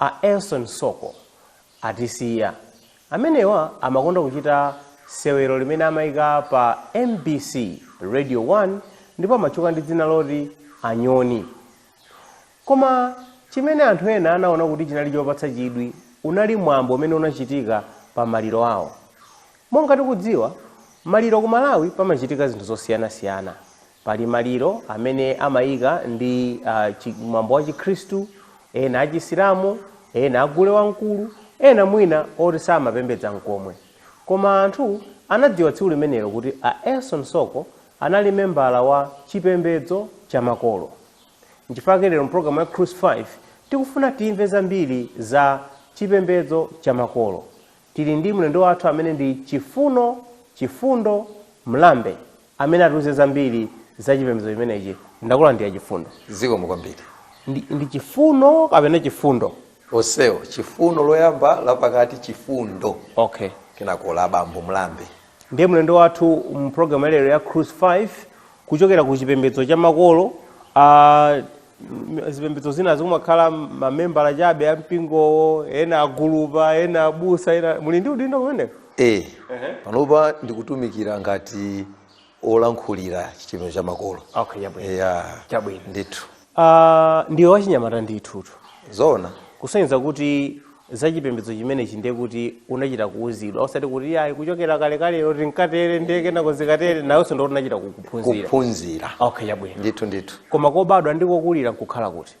A Elson Soko atisiya. Amenewa amakonda kuchita sewero limene amaika pa mbc, Radio 1 ndipo amatchuka ndi dzina loti Anyoni. Koma chimene anthu ena anaona kuti chinali chopatsa chidwi unali mwambo umene unachitika pa maliro awo. Monga tikudziwa maliro, ku Malawi pamachitika zinthu zosiyanasiyana. Pali maliro amene amaika ndi a chi mwambo wa chikhristu, ena a chisilamu, ena a gule wamkulu, ena mwina oti samapembedza mkomwe. Koma anthu anadziwa tsiku limenelo kuti a Elson Soko anali membala wa chipembedzo cha makolo. Nchifukwa chake lero mu programu ya Cruise 5 tikufuna timve zambiri za chipembedzo cha makolo. Tili ndi mlendo wathu amene ndi Chifuno Chifundo Mlambe. amene atiuze zambiri za chipembedzo chimenechi ndakulandirani chifundo zikomo kwambiri ndi, ndi chifuno kapena chifundo onsewo chifuno loyamba lapakati chifundo okay kenako la bambo mlambe ndiye mlendo wathu mu programu ya lero ya cruise 5 kuchokera ku chipembedzo cha makolo uh, M- zipembedzo zinazi kumakhala mamembala chabe a mpingowo ena agulupa ena abusa ena muli ndi udindo kumeneko e panopa ndikutumikira ngati olankhulira chipembedzo cha makolo okay yabwino ya Chabwino. ndithu Ah, ndiwe wachinyamata ndithutu zoona kusonyeza kuti za chipembedzo chimenechi ndiye kuti unachita kuuzidwa osati kuti ayi kuchokera kalekalero tinkatere ndiye kenako zikatere nawenso ndiye unachita ku- kuphunzira kuphunzira okay yabwino ndithu ndithu koma kobadwa ndi kokulira nkukhala kuti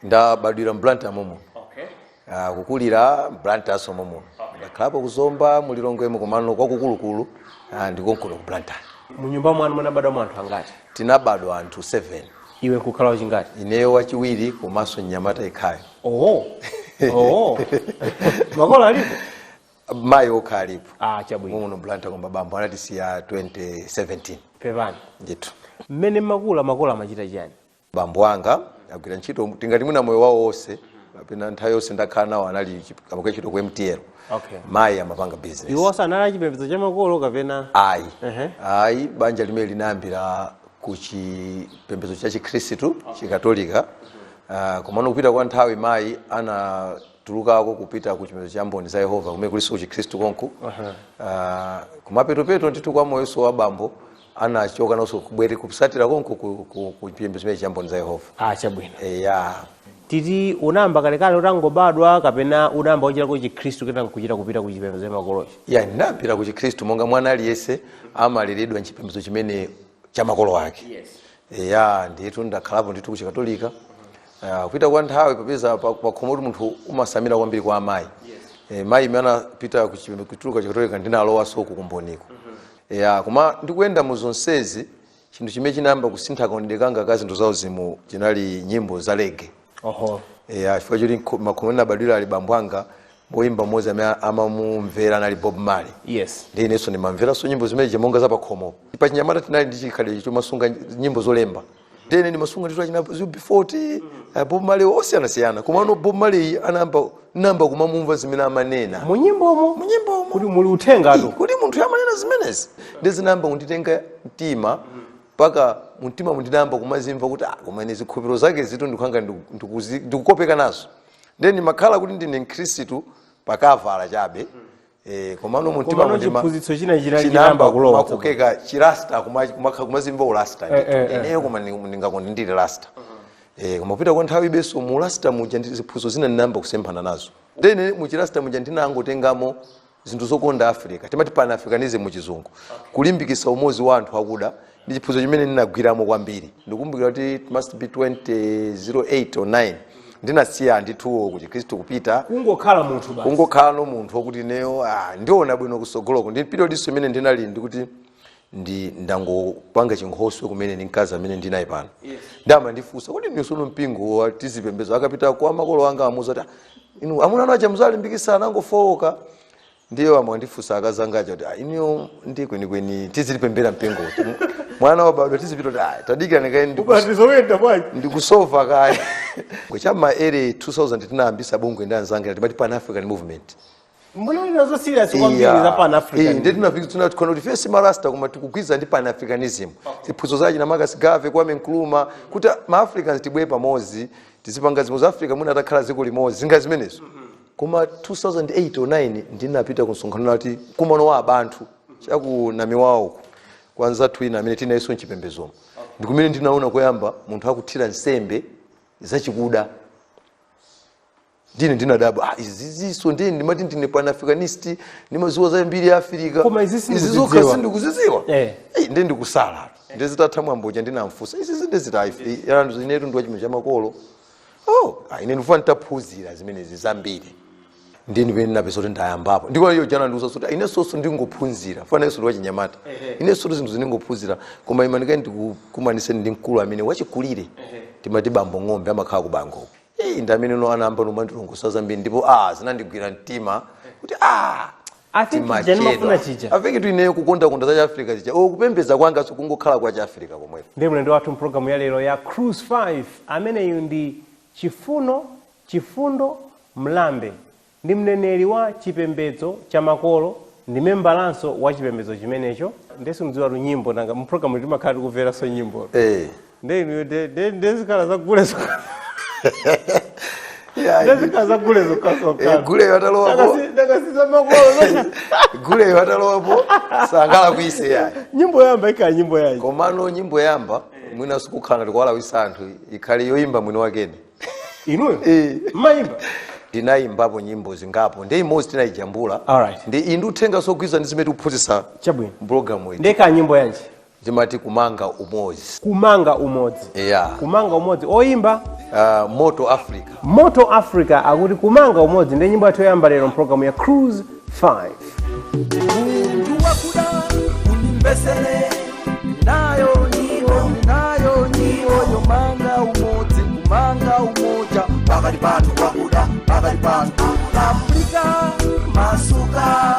ndabadwira mblantyre momuno okay. Ah, kukulira mblantyre nso momuno ndakhalapo kuzomba mulilongwemo komano kwakukulukulu ah, ndikonkuno ku mblantyre munyumba mwanu munabadwa mwa anthu angati tinabadwa anthu 7 iwe nkukhala wachingati ineyo wachiwiri komanso mnyamata yekhayo Oh. Oh. Makolo alipo? mayi okha alipo Ah, chabwino. muno blantyre koma bambo anatisiya 2017 Pepani. ndithu Mmene makula makolo amachita chani? bambo anga agwirako ntchito tingati mwina moyo wawo wonse kapena nthawi yonse ndakhala nawo anali chi- amagwira ntchito ku mtl Okay. mayi amapanga business Iwo sanali achipembedzo cha makolo kapena ayi Ehe. ayi banja limene linayambira ku chipembedzo cha chikhristu chikatolika uh, komano kupita kwa nthawi mayi anatulukako kupita ku chipembedzo cha mboni za yehova kumene kulinso ku chikhristu konku uh, kumapetopeto ndithu kwa moyonso wa bambo anachoka nawonso kubwera kutsatira konku ku, ku, ku chipembedzo chimenechi cha mboni za yehova ah chabwino eya titi unayamba kalekale utangobadwa kapena unayamba kuchitako chikhristu kena nkuchita kupita ku chipembedzo cha makolochi Iya ndinapita ku chikhristu monga mwana aliyense amaleredwa mchipembedzo chimene cha makolo ake eya ndiye tu ndakhalapo ndithu kuchikatolika Ah, kupita kwa nthawi popeza pa- pakhomo kuti munthu umasamira kwambiri kwa amayi Eh, mayi mmene anapita kuchipembe- kutuluka chikatolika ndinalowanso kukumboniko ya koma ndikuyenda mu zonsezi chinthu chimene chinayamba kusintha kaonedwe kanga ka zinthu zauzimu chinali nyimbo za reggae oho eya chifukwa choti nkho- makhomo ndinabadwira ali bambo anga woyimba mmodzi amene amamumvera anali bob marley yes ndiye inenso ndimamveranso nyimbo zimenezi monga za pakhomo pachinyamata tinali ndi chikhalidwe chomasunga nyimbo zolemba ndene ndimasunga ndithu achina UB40 bob marley osiyanasiyana komano bob marley ndinayamba ndinayamba kumamumva zimene amanena mu nyimbomo mu nyimbomo kuti muli uthengatu kuti munthu amanena zimenezi ndiye zinayamba kunditenga mtima mpaka mumtima mu ndinayamba kumazimva kuti ah, koma ine zikhulupiriro zake zitu ndikuganiza ndikukopeka nazo nde ndimakhala kuti ndine mkhristu pa cover chabe Eh, komano mu mtima komano mundima- chiphunzitso china china chinayamba chinayamba kulowa kumakokeka chirasta kuma- kumakha- kumazimva urasta Eh, eh, eh. ineyo koma ndi- ndingakonde ndili rasta Eh, koma kupita kwa nthawi iribenso mu rasta muja ndi ziphunzitso zina ndinayamba kusemphana nazo ndiye mu chirasta muja ndinangotengamo zinthu zokonda africa timati pan africanism mu chizungu kulimbikisa umodzi wa anthu akuda ndi chiphunzitso chimene ndinagwiramo kwambiri ndikumbukira kuti it must be 2008 or 9 ndinasiya ndithu ku chikhristu kupita kungokhala munthu basi kungokhalano munthu wokuti ineyo ah, ndiona bwino kusogoloko ndi periodnso imene ndinali ndikuti ndi ndangopanga chinkhoswe kumene ndi mkazi amene ndili naye pano ankandifunsa kuti ndiye tsono mpingo wuti tizipembedza akapita kwa makolo anga amuza kuti "Ah, inu amuna anu aja muzalimbikisa anangofowoka ndiye omwe andifunsa akazi anga aja kuti "Ah, inuyo nde kwenikweni tizipemphera mpingo uti mwana wabadwa tizipita kuti "Ah, tadikira ni kaye ndikus- ubatizo uyenda bwanji ndikusova kaye cha ma year 2000 tinayambisa bungwe ndi anzanga timati pan african movement mmene ndinali nazo serious kwambiri Iya. za pan Iyi, african ndi tinafika timatikonda kuti si marasta koma tikugwirizana ndi pan africanism ziphunzitso za achina marcus garvey kwame nkrumah kuti maafricans tibwere pamodzi tizipanga zinthu za africa mwina atakhala dziko limodzi zinthu ngati zimenezo koma 2008 or 9 ndinapita ku msonkhano amati mkumano wa abantu chaku Namiwawa uku kwa nzathu ena amene tili nawonso mchipembezomo ndikumene ndinaona koyamba munthu akuthira nsembe zachikuda ndiye ndinadabwa ah, izizinso nde ndimati ndine panafricanist ndimaziwa za mbiri ya afirika Koma izi sindikuzidziwa. izizokha sindikuziziwa Eh. Eh, nde ndikutsala nde zitatha mwambo uja ndinamfusa izizi ndi ziti inetu ndi wa chipembedzo chamakolo oh ah, ine ndikufuna nditaphunzira zimenezi zambiri nde ndi pamene ndinapeza kuti ndayambapo ndipo iyo jana ndiuza kuti inensotu ndingophunzira fana yesu ndiwachinyamata inensotu zinthuzi ndingophunzira koma imani kaye ndikukumanitseni ndi mkulu amene wachikulire timati bambo ng'ombe amakhala ku bango Eh, ndi amene ano anayamba kumandilongosolera zambiri ndipo ah zinandigwira mtima kuti ah I think chija timachedwa ndimafuna chija avingitu ineyo kukondakonda za chiafrika chija o kupembedza kwanga sikungokhala kwa chiafrika komwepo ndi mlendo wathu mpulogalamu yalero ya cruise 5 ameneyu ndi chifuno chifundo mlambe ndi mneneri wa chipembedzo cha makolo ndi membalanso wa chipembedzo chimenecho ndesimdziwatu nyimbo nanga mpulogalamu timakhala tikumveranso nyimbo Eh, nde inuyo nde- nde- nde zikhala zagule zokha- Yeah, nde zikhala zagule Eh, zokhazokha guleyo atalowapo ndakasiza makolo guleyo atalowapo sangala kuise yayi nyimbo yamba ikhala nyimbo yayi komano nyimbo yoyamba mwina kukhala ngati kuwalawitsa anthu ikhale yoyimba mwini wakene inuyo Eh. mmayimba ndinayimbapo nyimbo zingapo nde imodzi tinayijambula Alright. nde ili ndi uthenga zogwirizana ndi zimene tikuphunzitsa chabwino mpulogalamu iyi nde ikhala nyimbo yanji timati kumanga umodzi kumanga umodzi yeah. kumanga umodzi oyimba uh, moto africa moto africa akuti kumanga umodzi nde nyimbo yathu yoyamba lero mpulogalamu ya cruise 5 Munthu wakuda unimbesele nayo niwo nayo niwo yomanga umodzi kumanga umoja pakati pa anthu akuda pakati pa anthu afrika masuka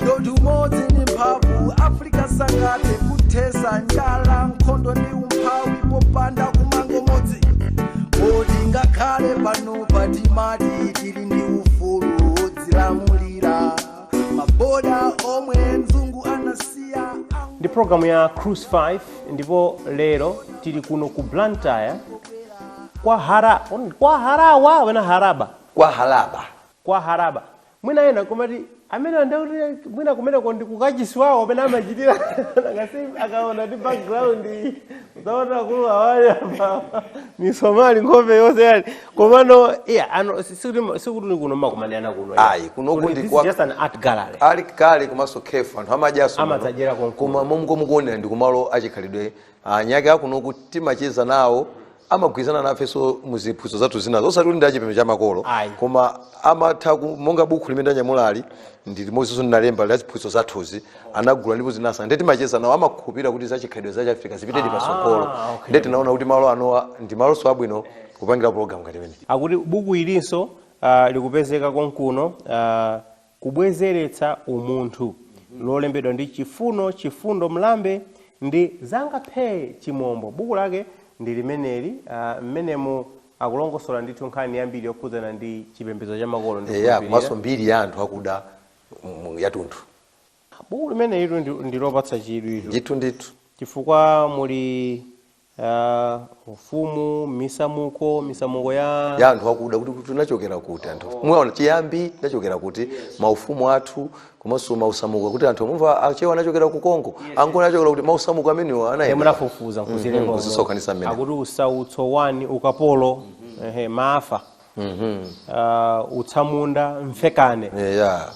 ndodi umodzi ndi mphamvu afrika sangathe kuthetsa njala nkhondo ndi umphawi popanda kumanga umodzi kuti ngakhale panopa timati tili ndi ufulu wodzilamulira maboda omwe mzungu anasiya angu- ndi programu ya cruise 5 ndipo lero tili kuno ku blantyre kwa hara kwa haraba mwina haraba kwa halaba kwa haraba Mwina ena nkumati amenewa nde kuti mwina kumeneko ndi kukachisi wawo amene amachitira nanga si akuona ndi background iyi akuona akuluawa ali apa misomali nkhope yonse yani komano iya ano si- sikuti sikuti ni kuno mumakumanirana kuno iya. Ayi, kunoku Kuti ndi this kwa- is just an art gallery ali kale komanso cafe anthu amadyanso Amadzadyera konkuno. koma momwe mukuonera ndi kumalo achikhalidwe eni ake akunoku timacheza nawo amagwirizana nafenso muziphunzitso zathu zinazo osati kuti ndi achipembedzo cha makolo Ayi. koma amatha ku- monga bukhu limene ndanyamulali ndi limodzinso ndinalemba la ziphunzitso zathuzi anagula ndipo zinawasangalatsa nde timacheza nawo amakhulupirira kuti zachikhalidwe za chiafrika zipite patsogolo okay. nde tinaona kuti malo anowa ndi malonso abwino kupangira pologalamu ngati imeneyi akuti buku ilinso uh, likupezeka konkuno uh, kubwezeretsa umunthu, lolembedwa ndi Chifuno, Chifundo Mlambe ndi Zanga Phee Chimombo. Buku lake ndi limeneli. a, Mmenemu akulongosola ndithu nkhani yambiri yokhudzana ndi chipembedzo cha makolo, Eya, mbiri ya anthu akuda mm, yatunthu Buku limenelitu ndi, ndi lopatsa chidwitu ndithu ndithu chifukwa muli ya ufumu misamuko misamuko ya ya anthu akuda kuti tinachokera kuti anthu muona chiyambi tinachokera kuti maufumu athu komanso misamuko kuti anthu mumva achewa anachokera ku Kongo angoni anachokera kuti misamuko imeneyo yomwe anayenda anafufuza Mhm, nkuzilemba kuzisonkhanitsa mmene. akuti usautso wa ukapolo ehe, maafa Ah, utsamunda mfekane yeah.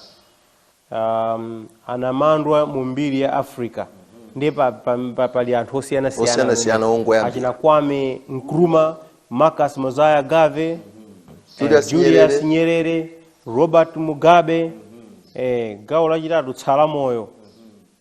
um, anamandwa mu mbiri ya africa ndiye pa, pa, pa, pali anthu osiyanasiyana Osiyanasiyana amene- ongoyambira. achina kwame nkrumah marcus mosiah garvey eh, Julius julius Nyerere. nyerere robert mugabe eh, gawo lachitatu tsala moyo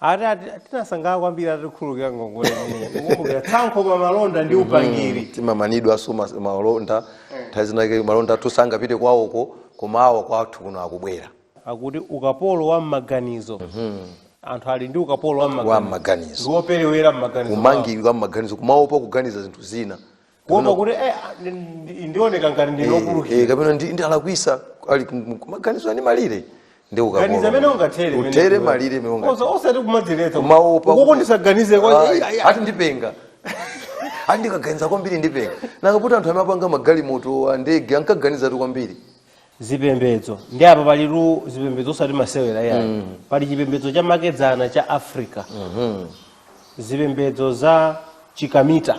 ati ati- tinasangalala kwambiri atikhululukira ngongole imeneyi kukumbukira tsankho pa malonda ndi upangiri timamanidwanso mas- malonda nthawi zinake malonda athu sangapite kwawoko koma awa kwathu kuno akubwera akuti ukapolo wa mmaganizo anthu ali ndi ukapolo wa wa mmaganizo mmaganizo ndiwoperewera mmaganizo mwawo. kumangidwa mmaganizo kumaopa kuganiza zinthu zina kuopa kuti eh, ah, ndi- ndi- ndioneka ngati Eh, ndine wopulukira eh, kapena ndi ndalakwitsa ali kum- maganizo ali ndi malire ndi ukapolo. ganiza mmene ungathere utere malire mmene ungathere. Osa- osati kumadziletsa Kumaopa ukoko kuti- ndisaganize kwa Ayi, Iya, iya. ati ndipenga ati ndikaganiza kwambiri ndipenga nanga kuti anthu amene anapanga magalimoto ndege ankaganizatu kwambiri zipembedzo ndiye apa palitu zipembedzo osati masewera iyayi pali chipembedzo cha makedzana cha africa zipembedzo za chikamita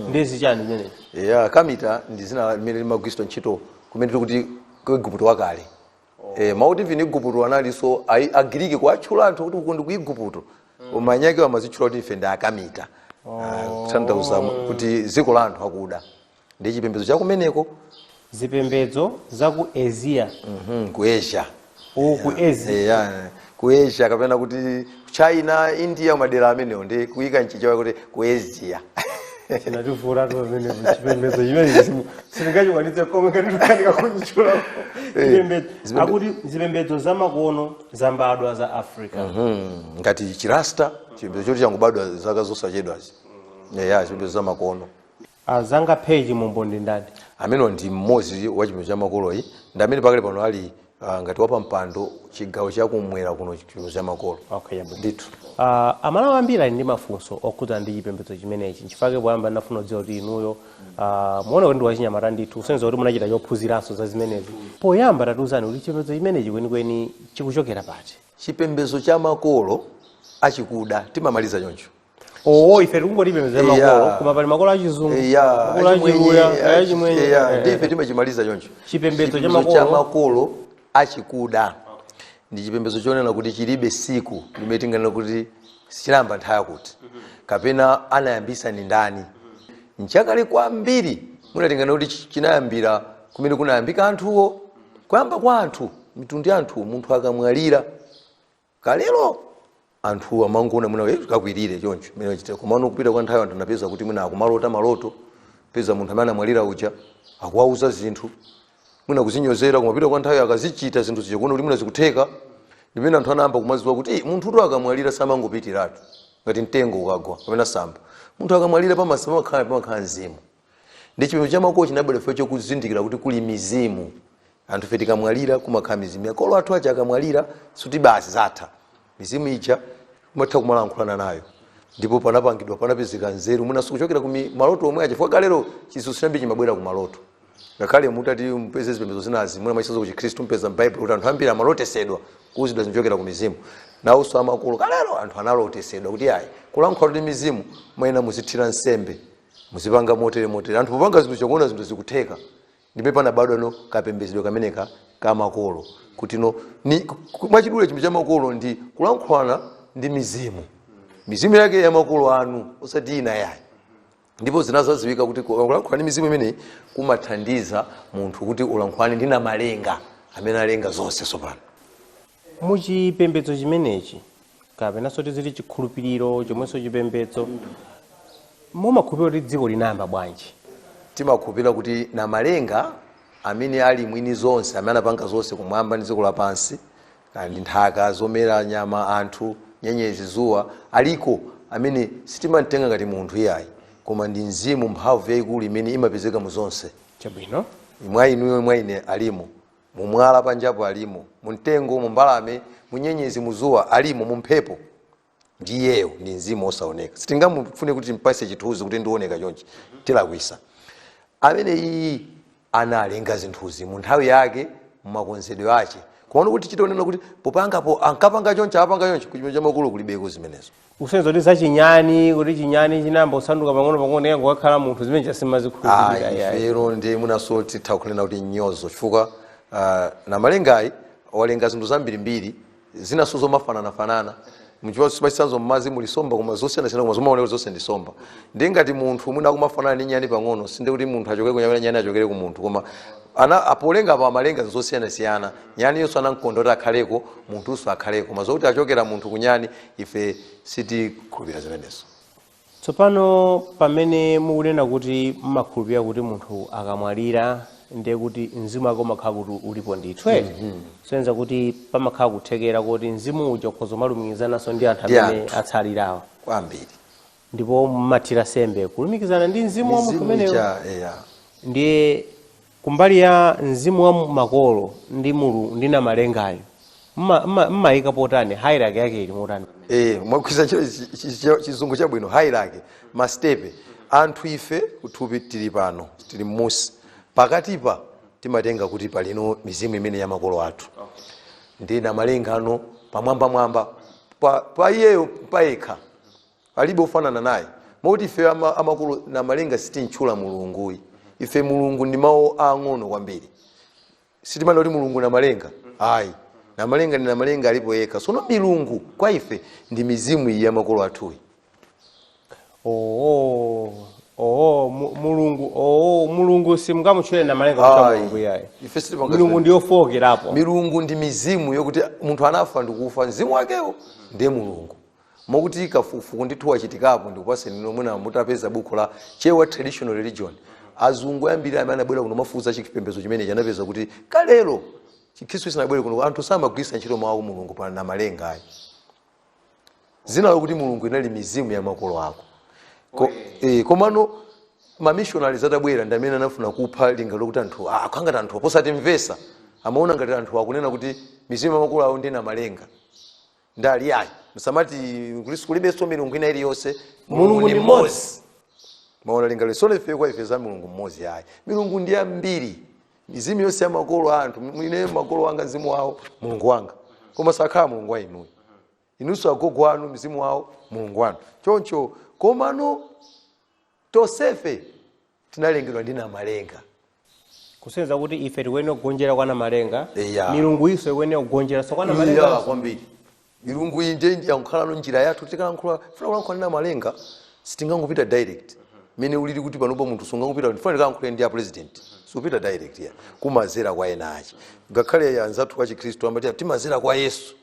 ndi chiyani zimenezi ya kamita ndi dzina limene limagwiritsidwa ntchito kumene tikuti ku igupto wakale Eh, mawu oti igupto analinso a agiriki kuatchula anthu kuti uku ndi ku igupto koma eni ake amadzitchula kuti ife ndi akamita Ah, kutanthauza kuti dziko la anthu akuda ndi chipembedzo cha kumeneko zipembedzo za ku asia Mhm, ku asia uku ku asia Eya, ku asia kapena kuti china india madera amenewo ndi kuyika mchichewa kuti ku asia chinativutatu pamene chipembedzo chimene sindingachikwanitse komwe ngati ndikanika kutchula chipembedzo zipembe- akuti zipembedzo zamakono zambadwa za africa Mhm, ngati chirasta chipembedzo choti changobadwa zaka zosachedwazi eya chipembedzo zamakono Azanga Phee Chimombo ndi ndani? Amenewa ndi mmodzi wa chipembedzo cha makolo yi ndi amene pakali pano ali ah, ngati wapampando chigawo cha kumwera kuno chipembedzo cha makolo Okay, chabwino. ndithu Ah, amalawi ambiri ali ndi mafunso okhudzana ndi chipembedzo chimenechi nchifukwa poyamba ndinafuna kudziwa kuti inuyo ah, muona kuti ndi wachinyamata ndithu kusonyeza kuti munachita chophunziranso za zimenezi poyamba tatiuzani kuti chipembedzo chimenechi kwenikweni chikuchokera pati chipembedzo cha makolo achikuda timamaliza choncho oo ife tikungoti chipembedzo cha makolo Yeah. koma pali makolo achizungu Eya, makolo achimwenye, achiluya achi- achimwenye eya, eh, ndi ife timachimaliza choncho Chipembedzo cha Chipembedzo cha makolo. makolo achikuda ndi chipembedzo chonena kuti chilibe siku limene tinganena kuti chinayamba nthawi yakuti kapena anayambitsa ndi ndani mchakale kwambiri mwina tinganena kuti chi- chinayambira kumene kunayambika anthuwo kuyamba kwa anthu mitundu ya anthu munthu akamwalira Kalelo anthu amangoona mwina kuti kakwirire choncho mmene wachitira, komano kupita kwa nthawi anthu anapeza kuti mwina akumalota maloto, peza munthu amene anamwalira uja akuwauza zinthu, mwina kuzinyozera, koma kupita kwa nthawi akazichita zinthu zija kuona kuti mwina zikutheka, ndi pamene anthu anayamba kumadziwa kuti "Ih, munthutu akamwalira samangopitiratu ngati mtengo ukagwa kapena samba, munthu akamwalira pamatsa- pamakhala pamakhala mzimu. nde chipembedzo cha makolo chinabwera chifukwa chakuzindikira kuti kuli mizimu anthufe tikamwalira kumakhala mizimu makolo athu aja akamwalira sikuti basi zatha mizimu ija imatha kumalankhulana nayo ndipo panapangidwa panapezeka nzeru mwina zikuchokera ku mi- maloto omwe aja chifukwa kalero zinthu zambiri zimabwera ku maloto ngakhale mutati mpeze zipembedzo zinazi mwina mwachitsanzo ku chikhristu mpeza m'baibulo kuti anthu ambiri amalotesedwa kuuzidwa zimachokera ku mizimu nawonso amakolo kalero anthu analotesedwa kuti ayi kulankhula ndi mizimu muyenera muzithira nsembe muzipanga motere motere anthu popanga zinthu nkuona zinthu zikutheka ndi mmene panabadwano kapembezedwe kameneka ka makolo kuti no ni ku- ku- mwachidule chipembedzo cha makolo ndi kulankhulana ndi mizimu mizimu yake ya makolo anu osati ina yayi ndipo zinadzadziwika kuti ku- kulankhulana ndi mizimu imeneyi kumathandiza munthu kuti ulankhulane ndi namalenga amene alenga zonse tsopano Mu chipembedzo chimenechi, kapenanso tiziti chikhulupiriro chomwenso chipembedzo, mumakhulupirira kuti dziko linayamba bwanji? Timakhulupirira kuti Namalenga, amene ali mwini zonse, amene anapanga zonse kumwamba ndi dziko lapansi, kaya ndi nthaka, zomera, nyama, anthu, nyenyezi, dzuwa, aliko amene sitimam'tenga ngati munthu iyayi, koma ndi mzimu, mphamvu yaikulu imene imapezeka mu zonse. Chabwino. Mwa inuyo, mwa ine alimo. Mu mwala panjapo alimo, mu mtengo, mu mbalame, mu nyenyezi, mu zuwa alimo, mu mphepo. Ndi iyeyo, ndi mzimu osaoneka. Sitingamufune kuti timpase chithuzi kuti ngooneka chonchi. Tilakwisa. Amene uyu analenga zinthuzi mu nthawi yake, mu makonzedwe ache. Koma ano kuti tichite kunena kuti popangapo, ankapanga chonchi, apanga chonchi, kuchipembedzo cha makolo kulibeko zimenezo. kusonyeza kuti za chinyani kuti chinyani chinayamba kusanduka pang'ono pang'ono ya kukakhala munthu zimenezo sitimazikhulupirira ayi yayi ife ndiponso titha kunena kuti nyozo chifukwa ah, namalengayi walenga zinthu zambirimbiri zinanso zomafananafanana mwachitsanzo mmadzi muli somba koma zosiyanasiyana koma zomaoneka zonse ndi somba ndi ngati munthu mwina akumafanana ndi nyani pang'ono sindiye kuti munthu achokera kunyani kapena nyani achokera ku munthu koma ana a Namalenga amalenga zinthu zosiyanasiyana nyani yonso anamkonda kuti akhaleko munthunso akhaleko koma zokuti achokera munthu kunyani ife sitikhulupirira zimenezo tsopano pamene mukunena kuti mumakhulupirira kuti munthu akamwalira ndiye kuti mzimu wake umakhala kuti ulipo ndithu eti kusonyeza kuti pamakhala kuthekera kuti mzimu uja ukhoza umalumikizananso ndi anthu amene atsalirawa kwambiri ndipo mumathira sembe kulumikizana ndi mzimu wa munthu mizimu umeneyo ija eya ndiye Kumbali ya mzimu wa makolo ndi mulu ndi Namalengayo, mma- mma- mmaika pa pati? Hierarchy yake ili motani pamene? Eh, mwagwiritsa ntchito chi- chi- chi- chizungu chabwino hierarchy mastepe anthu ife kuthupi tili pano tili mmusi pakatipa timatenga kuti pali mizimu imene ya makolo athu ndi namalenga ali pamwambamwamba pa, pa iyeyo payekha Palibe ofanana naye. Moti ifeyo ama, amakolo Namalenga sitimtchula Mulungu ayi. Ife Mulungu ndi mawu aang'ono kwambiri. Sitimanena kuti Mulungu Namalenga. Ayi. Namalenga ndi Namalenga alipo yekha. Sono milungu kwa ife ndi mizimu iyi ya makolo athuyi. Oh, oh, mu- Mulungu, oh, Mulungu simngamutchule Namalenga kuti Mulungu? Ayi ayi. Ife sitimanena Mulungu zimene- ndi yofookerapo. milungu ndi mizimu yokuti munthu anafa ndikufa mzimu wakewo ndiye mulungu Mokuti kafukufuku ndithu wachitikapo ndikupatseni inu mwina mutapeza buku la Chewa Traditional Religion. Azungu ambiri amene anabwera kuno kumafufuza chipembedzo chimenechi anapeza kuti kalelo Chikhristu chisanabwere kuno anthu samagwiritsa ntchito mawu a Mulungu pa namalenga ayi. Dzina lokuti Mulungu inali mizimu ya makolo ako. Ko, eh, komano mamishonari atabwera ndi amene anafuna kupha lingaliro lokuti anthu ah, akhala ngati anthu a posamvetsa amaona ngati anthu akunena kuti mizimu ya makolo awo ndi namalenga ndiye ali ayi musamati kulis- kulibenso milungu ina iliyonse Mulungu ndi mmodzi. mwaona lingaliro sono ife kwa ife za mulungu mmodzi ayi milungu ndi yambiri mizimu yonse ya makolo a anthu ine makolo anga mzimu wawo mulungu wanga koma sakhala mulungu wa inuyo inunso agogo anu mzimu wawo mulungu wanu choncho komano Tonsefe tinalengedwa ndi Namalenga. Kusonyeza kuti ife tikuyenera kugonjera kwa Namalenga. Eya. Milunguyinso ikuyenera kugonjeranso kwa Namalenganso. Eya kwambiri. Milungu iyi ndiye yakhala njira yathu tikafuna kulankhula ndi Namalenga sitingangopita direct. Mmene zilili kuti panopa munthu sungangopita ndikufuna ndikalankhule ndi a president. Supita direct ya. Kumadzera kwa enaake. Ngakhale anzathu a Chikhristu amati timadzera kwa Yesu.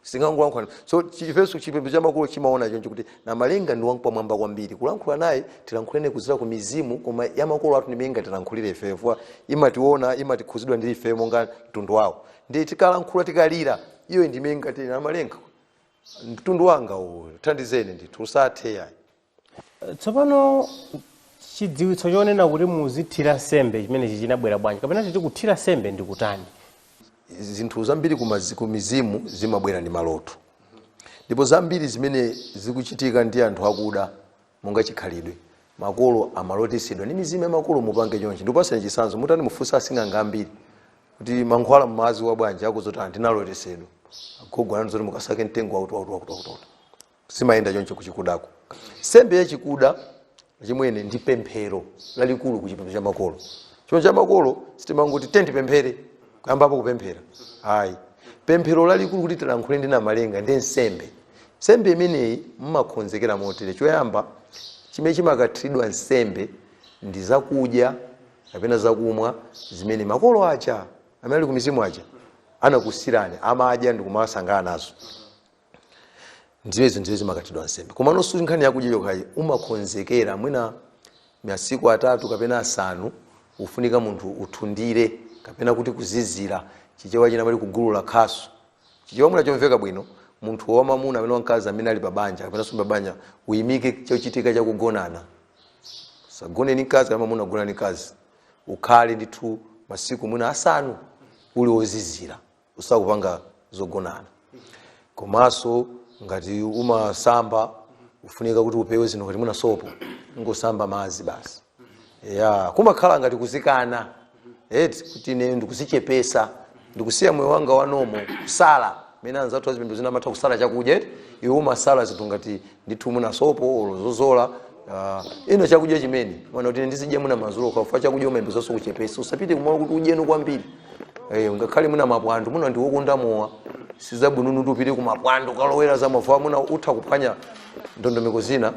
Sitingangolankhulana so ifenso chipembedzo cha makolo chimaona choncho kuti Namalenga ndi wampamwamba kwambiri kulankhula naye tilankhulane kudzera ku mizimu koma ya makolo athu ndi imene ingatilankhulire ifeyo chifukwa imatiwona imakhudzidwa ndi ifeyo monga mtundu wawo ndiye tikalankhula tikalira iyoyo ndi imene ingati Namalenga mtundu wanga uwu thandizeni ndithu usathe yayi tsopano chidziwitso chonena kuti muzithira nsembe chimenechi chinabwera bwanji kapena titi kuthira nsembe ndi kutani zinthu zambiri kumizi- kumizimu zimabwera ndi maloto ndipo zambiri zimene zikuchitika ndi anthu akuda monga chikhalidwe makolo amalotesedwa ndi mizimu ya makolo mupange chonchi ndikupasani chisanzo mutani mufunsa asing'anga ambiri kuti mankhwala mmaadziwa bwanji akuuzani kuti ndinalotesedwa agogo anandiuza kuti mukasake mtengo wakuti wakuti wakuti wakuti zimayenda choncho kuchikudako nsembe yachikuda chimwene ndi pemphero lalikulu kuchipembedzo cha makolo chipembedzo cha makolo sitimangoti tiyeni tipemphere kuyambapo kupemphera ayi pemphero lalikulu kuti tilankhule ndi namalenga ndi nsembe nsembe imeneyi mmakonzekera motere choyamba chimene chimakathiridwa nsembe ndi zakudya kapena zakumwa zimene makolo aja amene ali kumizimu aja anakusiyirani amadya ndi kumasangala nazo ndiye zinthu izo zimakathiridwa nsembe komano si nkhani yakudya yokhayi umakonzekera mwina masiku atatu kapena asanu ufunika munthu uthundire kapena kuti kuzizira chichewa china amati kugulula khasu chichewa mwina chomveka bwino munthu wamamuna kaya wamkazi amene ali pabanja kapena suli pabanja uyimike chochitika chakugonana usagone ndi mkazi kaya mamuna kugona ndi mkazi ukhale ndithu masiku mwina asanu uli ozizira osakupanga zogonana komanso ngati umasamba kufunika kuti upewe zinthu ngati mwina sopo kungosamba madzi basi ya kumakhala ngati kuzikana eti kuti ine ndikuzichepesa ndikusiya moyo wanga wanomu kusala mene anzathu a zipembedzo zina amatha kusala chakudya eti iwe umasala zinthu ngati ndithu mwina sopo olo zozola ah, ina chakudya chimene mwina kuti ndizidya mwina mazulo kapena chakudya umayenera zonse kuchepesa usapite kumalo kuti udyenso kwambiri eh, ngakhale mwina mapwando mwina ndiwe okonda mowa sizabwinonso kuti upite kumapwando ukalowera za mowa mwina utha kuphwanya ndondomeko zina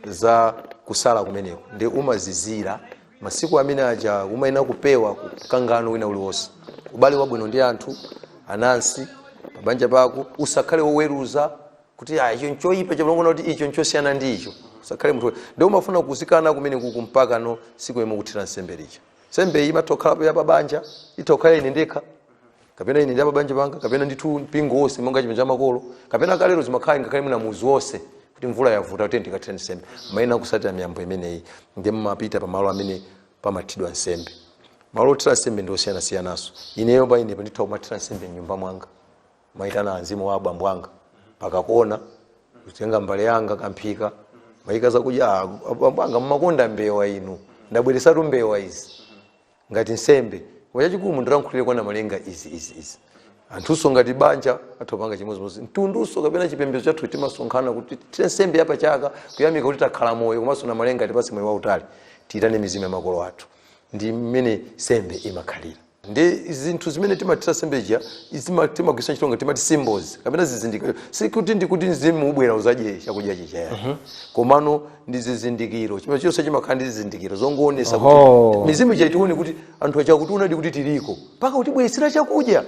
za kusala kumeneko ndi umazizira masiku amene aja umayenera kupewa mkangano wina uliwonse ubale wabwino ndi anthu anansi pabanja pako usakhale woweruza kuti ah, icho nchoyipa icho pamene kuti icho nchosiyana ndi icho usakhale munthu ndiye umafuna kuzikana kumene kuja mpakana siku lomwe ukathira nsembe lija nsembe iyi imatha kukhalapo ya pabanja itha kukhala ine ndekha kapena ine ndi apabanja panga kapena ndithu mpingo wonse monga chipembedzo cha makolo kapena kalero zimakhala ngakhale mwina muzi wonse kuti mvula yavuta kuti tikathire nsembe mmayenera kusatira miyambo imeneyi ndi mumapita pamalo amene pamathiridwa nsembe malo othira nsembe ndi osiyanasiyananso ineyo pa inepo nditha kumathira nsembe mnyumba mwanga maitana mzimu wa abambo anga paka kona kutenga mbale yanga kamphika ndimaika zakudya "Ah, abambo anga mmakonda mbewa inu ndabweretsatu mbewa izi ngati nsembe chachikulu mundilankhulire kwa Namalenga izi izi izi anthunso ngati banja amapanga chimodzimodzi mtundunso kapena chipembedzo chathu timasonkhana kuthira nsembe yapachaka kuyamika kuti takhala moyo komanso Namalenga atipatse moyo wautali tiyitane mizimu ya makolo athu ndi mmene nsembe imakhalira ndi zinthu zimene timathira nsembe ija izima- timagwiritsa ntchito ngati timati symbols kapena zizindikiro sikuti ndikuti mzimu ubwera uzadye chakudya chija yani komano ndi zizindikiro chimene chonse chimakhala ndi zizindikiro zongoonetsa kuti mizimu ija itione kuti anthu aja akutiwonadi kuti tiliko mpaka kutibweretsera chakudya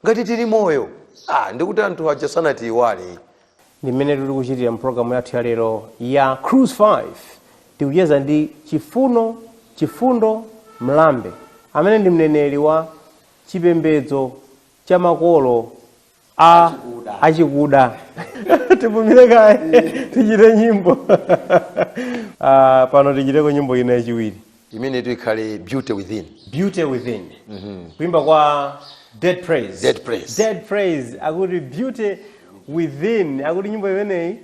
ngati tili moyo ah ndikuti anthu aja sanatiiwale ndi mmene tili kuchitira mu programu yathu ya lero ya cruise 5 tikucheza ndi chifuno chifundo mlambe amene ndi mneneri wa chipembedzo cha makolo a achikuda tipumire kaye tichite nyimbo Ah, pano tichiteko nyimbo ina yachiwiri imenetu ikhale beauty within beauty within kuimba kwa dead praise Dead Praise. dead praise akuti beauty within akuti nyimbo imeneyi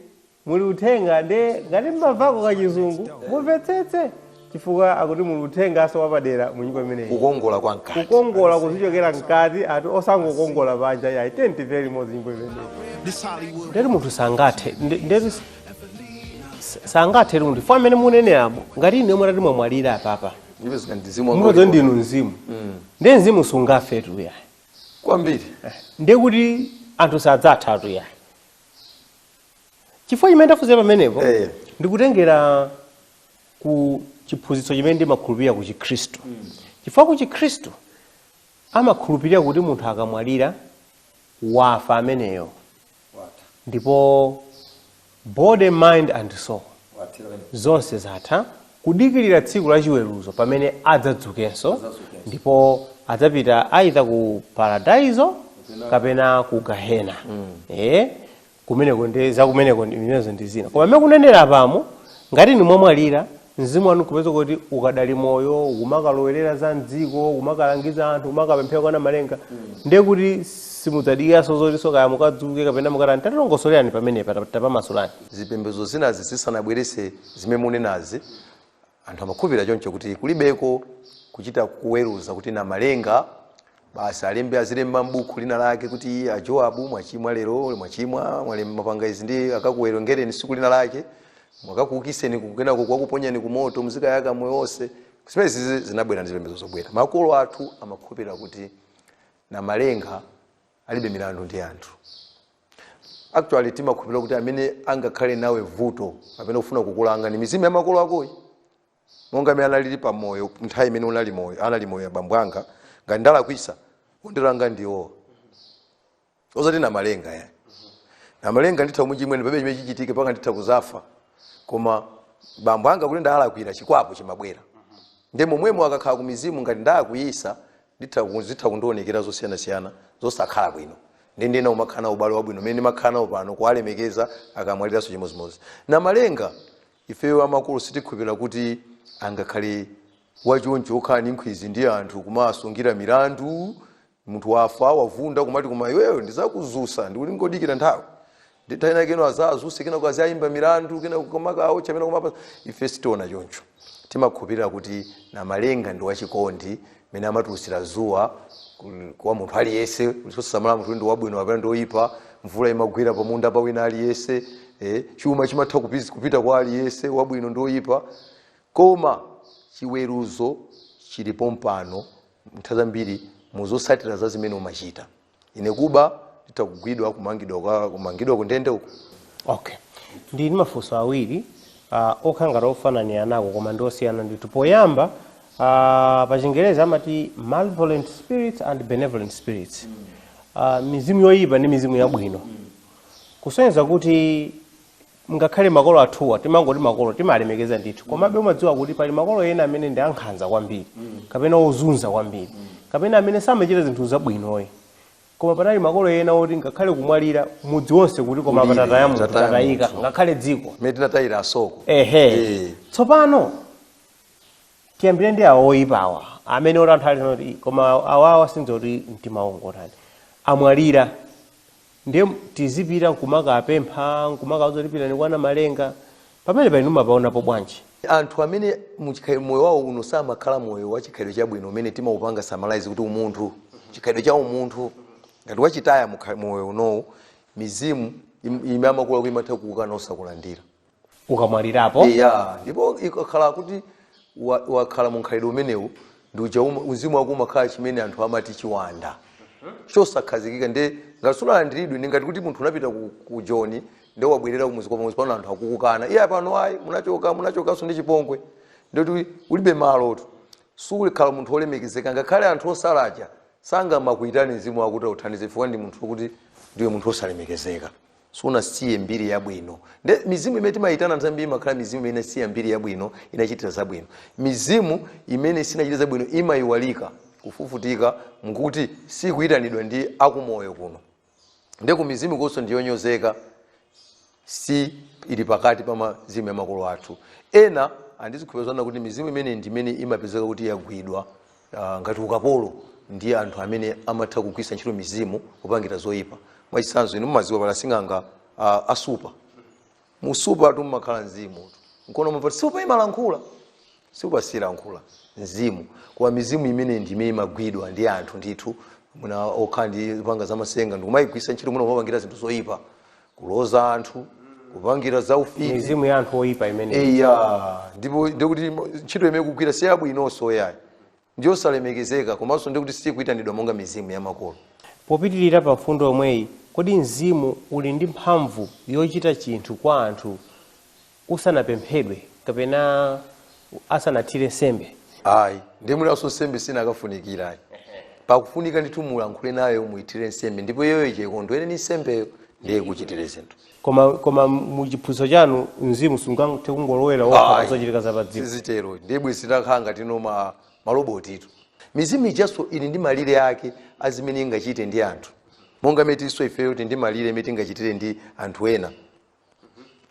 muli uthenga nde ngati mmavako kachizungu mumvetsetse chifukwa akuti muli uthenganso wapadera mu nyimbo imeneyi kukongola kwa mkati kukongola kuzichokera mkati ati osangokongola panja yayi tenti very much nyimbo imeneyi This Hollywood. ndeti munthu sangathe nde- ndeti sangathe chifukwa mmene mukunenerapo ngati inu mutati mwamwalira apapa ndipo mukangomwalira ndinu mzimu ndi mzimu sungafe tuya kwambiri ndi kuti anthu sadzatha tuya chifukwa chimene ndafunsa pamenepo Eh. ndikutengera ku chiphunzitso chimene ndimakhulupirira ku chikhristu chifukwa ku chikhristu amakhulupirira kuti munthu akamwalira wafa ameneyo ndipo body mind and soul zonse zatha kudikirira tsiku la chiweruzo pamene adzadzukenso ndipo adzapita kaya ku paradaizo kapena ku gahena eh kumeneko ndi zakumeneko ndi- imenezo ndi zina koma mmene mukunenera pano ngati inu mwamwalira Mzimu wanu nkupeza kuti ukadali moyo ukumakalowerera za mdziko ukumakalangiza anthu ukumakapemphera kwa namalenga ndiye kuti simudzadikiranso zotinso kaya mukadzuke kapena mukatani tatilongosolerani pamenepa tap- tapamasulani zipembedzo zinazi zisanabweretse zimene munenazi anthu amakhulupirira choncho kuti kulibeko kuchita kuweruza kuti namalenga basi alembe azilemba m'buku lina lake kuti a joabu mwachimwa lero mwachimwa mwale- mwapanga izi ndi akakuwerengereni siku lina lake akakuukiseni kenako akakuponyeni ku moto muzikayaka moyo wonse zimenezi zi- zinabwera ndi zipembedzo zobwera makolo athu amakhulupirira kuti namalenga alibe milandu ndi anthu actually timakhulupirira kuti amene angakhale nawe vuto kapena kufuna kukulanga ndi mizimu ya makolo akoyi Monga mmene analili pa moyo nthawi imene unali moyo, anali moyo abambo anga, ngati ndalakwisa, ondilanga ndiwowo. Osati Namalenga ya. Namalenga nditha kumuchimwa ine palibe chimene chichitike mpaka nditha kuzafa. Koma bambo anga ngati ndalakwira chikwapu chimabwera. Nde momwemo akakhala ku mizimu ngati ndawakwiisa nditha ku zitha kundionekera zosiyana siyana zosakhala bwino. Nde ndiyenera kumakhala nawo ubale wabwino umene ndimakhala nawo pano kuwalemekeza akamwaliranso chimodzimodzi. Namalenga Ifeyo amakolo sitikhulupilira kuti angakhale wachoncho okhala ndi nkhwizi ndi anthu kumawasungira milandu munthu wafa wavunda kumati koma iweyo ndizakuzusa ndikungodikira nthawi ndi nthawi ina kenako azazuse kenako aziayimba milandu kenako kamakawo chamena kumapa ife sitiona choncho timakhulupirira kuti namalenga ndi wachikondi mene amatulusira zuwa kwa munthu aliyese osasamala munthu ndi wabwino kapena ndi oyipa mvula imagwera pa munda pa wina aliyese eh, chuma chimatha kupiz- kupita kwa aliyese wabwino ndi oyipa koma chiweruzo chili pompano nthawi zambiri muzosatira za zimene umachita ine kuba nditha kugwidwa kumangidwa kuka- kumangidwa kundende uko okay ndi ndi mafunso awiri uh, okhala ngati ofananiranako koma ndi osiyana ndithu poyamba uh, pa chingerezi amati malevolent spirits and benevolent spirits uh, mizimu yoyipa ndi mizimu yabwino kusonyeza kuti ngakhale makolo athuwa timangoti makolo timalemekeza ndithu komabe umadziwa kuti pali makolo ena amene ndi ankhanza kwambiri kapena ozunza kwambiri kapena amene samachita zinthu zabwinoyi koma panali makolo ena oti ngakhale kumwalira mudzi wonse kuti koma kulira, pa tataya munthu tataya tatayika munthu. ngakhale dziko mmene tinatayira asoko ehe Eh. tsopano tiyambire ndi awo oyipa awa amene oti anthu ali kuti "Ih, koma awawa sindiziwa kuti mtima wawo ngotani amwalira ndiye tizipita nkumakapempha nkumakauza kuti pitani kwa namalenga pamenepa inu mumapaonapo bwanji anthu amene muchikhalidwe moyo wawo uno samakhala moyo wa chikhalidwe chabwino umene timaupanga summarize kuti umunthu chikhalidwe cha umunthu ngati wachitaya mukha- moyo unowu mizimu im- ime amakolo kuti imatha kukukana osakulandira ukamwalirapo eya ndipo ikakhala kuti wa- wakhala mu mkhalidwe umenewu ndi uja uma- uzimu wako umakhala chimene anthu amati chiwanda chosakhazikika nde ngati sunalandiridwe ndi ngati kuti munthu unapita ku, ku joni nde wabwerera kumudzi kwa pamodzi pano anthu akukukana iwe pano ayi munachoka munachokanso ndi chipongwe ndoti ulibe malotu sukhala munthu wolemekezeka ngakhale anthu osalaja sangamakuitani mzimu wako kuti authandize chifukwa ndi munthu wokuti ndiwe munthu wosalemekezeka sunasiye mbiri yabwino nde mizimu imene timayitana nthawi zambiri imakhala mizimu imene inasiya mbiri yabwino inachitira zabwino mizimu imene sinachite zabwino imayiwalika kufufutika nkuti sikuyitanidwa ndi akumoyo kuno nde ku mizimukonso ndiyonyozeka si ili pakati pa mizimu ya makolo athu ena ndizikupezana kuti mizimu imene ndi imene imapezeka kuti yagwidwa ah, ngati ukapolo ndi anthu amene amatha kugwiritsa ntchito mizimu kupangira zoyipa mwachitsanzo inu mumadziwa pali asing'anga ah, a nsupa munsupatu mumakhala mzimu nkona amati nsupa imalankhula nsupa silankhula mzimu koma mizimu imene ndi imene imagwidwa ndi anthu ndithu mwina okhala ndi mphamvu zamasenga ndikumayigwiritsa ntchito mwina kumapangira zinthu zoyipa kuloza anthu kupangira za ufiti mizimu ya anthu oyipa imeneyo eya ndipo ndikuti ntchito imene ikugwira si yabwinonso yayi ndiyosalemekezeka komanso ndikuti sikuyitanidwa monga mizimu ya makolo popitirira pa mfundo yomweyi kodi mzimu uli ndi mphamvu yochita chinthu kwa anthu usanapemphedwe kapena asanathire nsembe? Ayi. Ndiye mwinanso nsembe sinakafunikira ayi. Pakufunika ndithu mulankhule nayo muyithire nsembe ndipo iyoyo ija ikondwere ndi nsembeyo ndiye ikuchitire zinthu. Koma koma mu chiphunzitso chanu mzimu sungathe kungolowera wokha pa Ayi. zochitika za pa dziko. Sizitero. Ndiye bwezi titakhala ngati ndi ma malobotitu. Mizimu ijanso ili ndi malire ake a zimene ingachite ndi anthu. Monga mmene tilinso ifeyo tili ndi malire mmene tingachitire ndi anthu ena.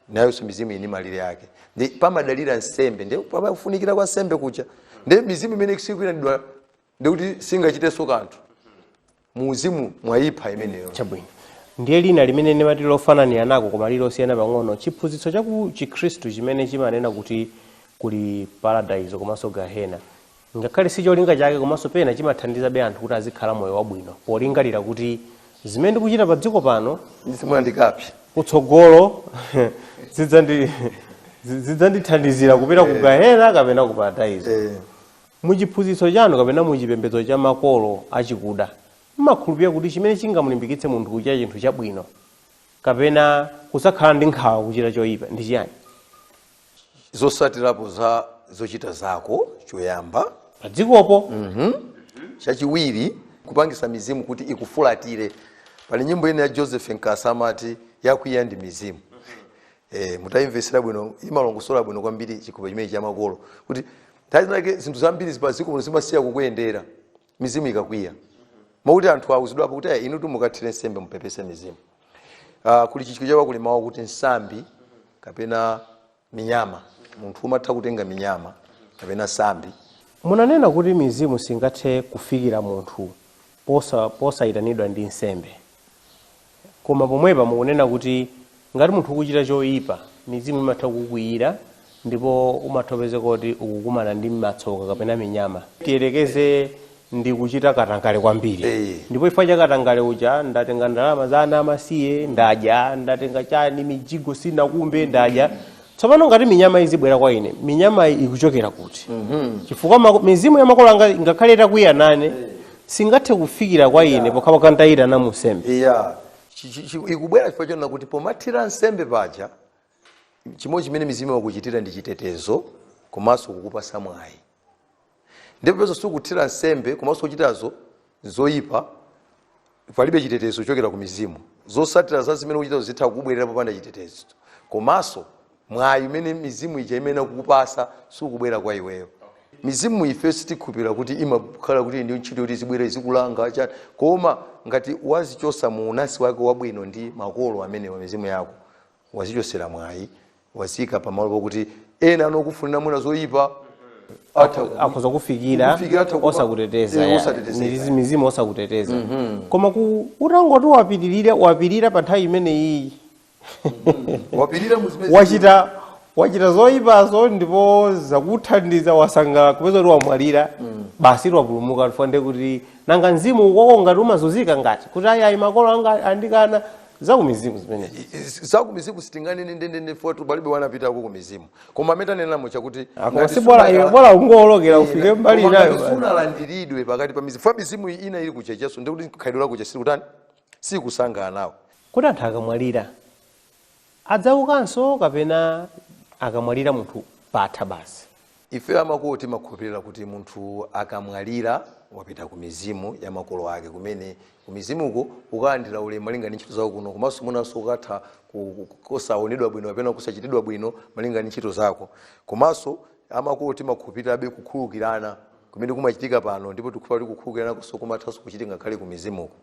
nayonso mizimu ili ndi malire ake nde pamadalira nsembe ndi pakufunikira kwa nsembe kuja nde mizimu imene sikuyitanidwa ndikuti singachitenso kanthu mu uzimu mwayipha imeneyo chabwino ndiye lina limene ndimati lili lofananira nako koma lili losiyana pang'ono chiphunzitso cha ku chikhristu chimene chimanena kuti kuli paradaizo komanso gahena Ngakhale si cholinga chake komanso pena chimathandizabe anthu kuti azikhala moyo wabwino polingalira kuti, Zimene ndikuchita padziko pano. ndi zimene ndikapse kutsogolo zidzandi- zi- zidzandithandizira kupita ku gahena kapena ku paradaiso. Eh, Mu chiphunzitso chanu kapena mu chipembedzo cha makolo achikuda, mmakhulupirira kuti chimene chingamulimbikitse munthu kuchita chinthu chabwino kapena kusakhala ndi nkhawa kuchita choyipa ndi chiyani? zosatirapo za zochita zako choyamba padzikopo chachiwiri kupangisa mizimu kuti ikufulatire pali nyimbo ina ya joseph nkasa amati yakwiya ndi mizimu eh, mutayimvesera bwino imalongosola bwino kwambiri chikoka chimenechi cha makolo kuti nthawi zinake zinthu zambiri za padziko muno zimasiya kukuyendera mizimu ikakwiya mwakuti anthu awuzidwapo kuti "Eh, inutu mukathire nsembe mupepese mizimu uh, kuli Chichewa chake kuli mawu akuti tsambi kapena minyama munthu umatha kutenga minyama kapena tsambi munanena kuti mizimu singathe kufikira munthu posa- posayitanidwa ndi nsembe Koma pomwepa mukunena kuti ngati munthu ukuchita choipa, mizimu imatha kukukwiyira ndipo umatha kupezeka kuti ukukumana ndi matsoka kapena minyama. Tiyerekeze ndikuchita katangale kwambiri Eeh. ndipo chifukwa cha katangale uja ndatenga ndalama za ana amasiye ndadya, ndatenga chani, mijigo sindinakumbe ndadya, tsopano ngati minyama izibwera kwa ine minyamayi ikuchokera kuti chifukwa mako- mizimu ya makolo anga ngakhale itakwiya nane singathe kufikira kwa ine pokha pokha nditaitana mu nsembe iya Chi- chi- chi- ikubwera chifukwa chonena kuti pomathira nsembe paja chimodzi chimene mizimu imakuchitira ndi chitetezo komanso kukupatsa mwayi ndipo poti sukuthira nsembe komanso ukuchita zoyipa palibe chitetezo chochokera ku mizimu zotsatira za zimene ukuchitazo zitha kubwerera popanda chitetezo komanso mwayi umene mizimu ija imakupatsa sukubwera kwa iweyo mizimu ife sitikhulupirira kuti imakhala kuti ndi ntchito yoti izibwera izikulanga chani koma ngati wadzichotsa mu unansi wako wabwino ndi makolo amenewa mizimu yako wadzichotsera mwayi wadziika pamalo pokuti ena anokufunira mwina zoyipa atha ku- akhoza kufikira kukufikira, atha kuba- osakuteteza eh, ya. osatetezeka. Mizizi- mizimu osakuteteza koma ku- utangoti wapitirira wapirira pa nthawi imeneyi wapirira mu zimene wachita wachita zoyipazo ndipo zakuthandiza wasangalala kupezeka kuti wamwalira basi wapulumuka chifukwa kuti nanga mzimu ukoko ngati umazunzika ngati kuti ayi ayi makolo anga andikana zakumizimu zimenezo zakumizimu sitinganene ndendende poti palibe anapitako kumizimu koma amene tanenamo chakuti Ah, koma ngati si bora- sunakhala- bora ungowolokera Eh, ufike mbali koma inayo ngati basi. sunalandiridwe pakati pa mizimu chifukwa mizimu iyi ina ili kutchetcheso ndikuti khalidwe lako chesiri kutani silikusangana nawo kuti anthu akamwalira adzaukanso kapena akamwalira munthu patha basi Ife a makolo timakhulupirira kuti munthu akamwalira, wapita ku mizimu ya makolo ake kumene ku mizimuko ukalandira ulemu malinga ndi ntchito zako kuno komanso mwinanso ukatha ku- ku- kusaonedwa bwino kapena kusachitidwa bwino malinga ndi ntchito zako komanso a makolo timakhulupirirabe kukhululukirana kumene kumachitika pano ndipo tikukhulupirira kuti kukhululukiranakonso kumathanso kuchitika ngakhale ku mizimuko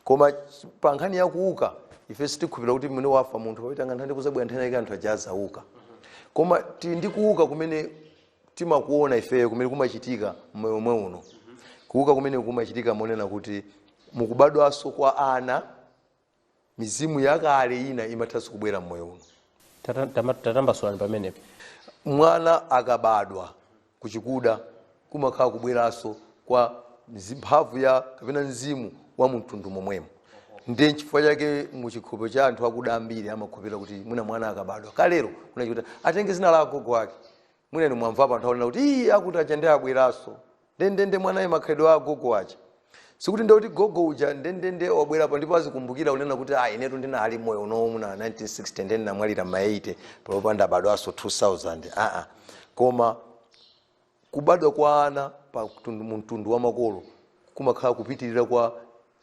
koma ch- pa nkhani ya kuuka ife sitikhulupirira kuti mmene wafa munthu pakapita nthawi kuzabwera nthawi yake anthu aja azauka koma tili ndi kuuka kumene timakuona ifeyo kumene kumachitika mmoyo omwe uno kuuka kumene kumachitika monena kuti mukubadwanso kwa ana Mizimu yakale ina imathanso kubwera m'moyo uno. Tata- tama- Tatambasulani pamenepo. Mwana akabadwa kuchikuta kumakhala kubweranso kwa mzi- mphamvu ya kapena mzimu wa mumtundu momwemo. Ndiye nchifukwa chake mu chikhulupiriro cha anthu akuda ambiri amakhulupirira kuti mwina mwana akabadwa kalero kuchikuta atenge dzina la agogo ake Mwina inu mwamvapo anthu akunena kuti ii akuti aja nde abweraso ndendende mwanayi makhalidwe a agogo aja. Sikuti nde kuti gogo uja ndendende wabwerapo ndipo azikumbukira kunena kuti ah inetu ndinali moyo unowu muna 1960 nde ndinamwalira ma 80 panopa ndabadwaso 2000 aa koma kubadwa kwa ana pa mtundu, mtundu wa makolo kumakhala kupitirira kwa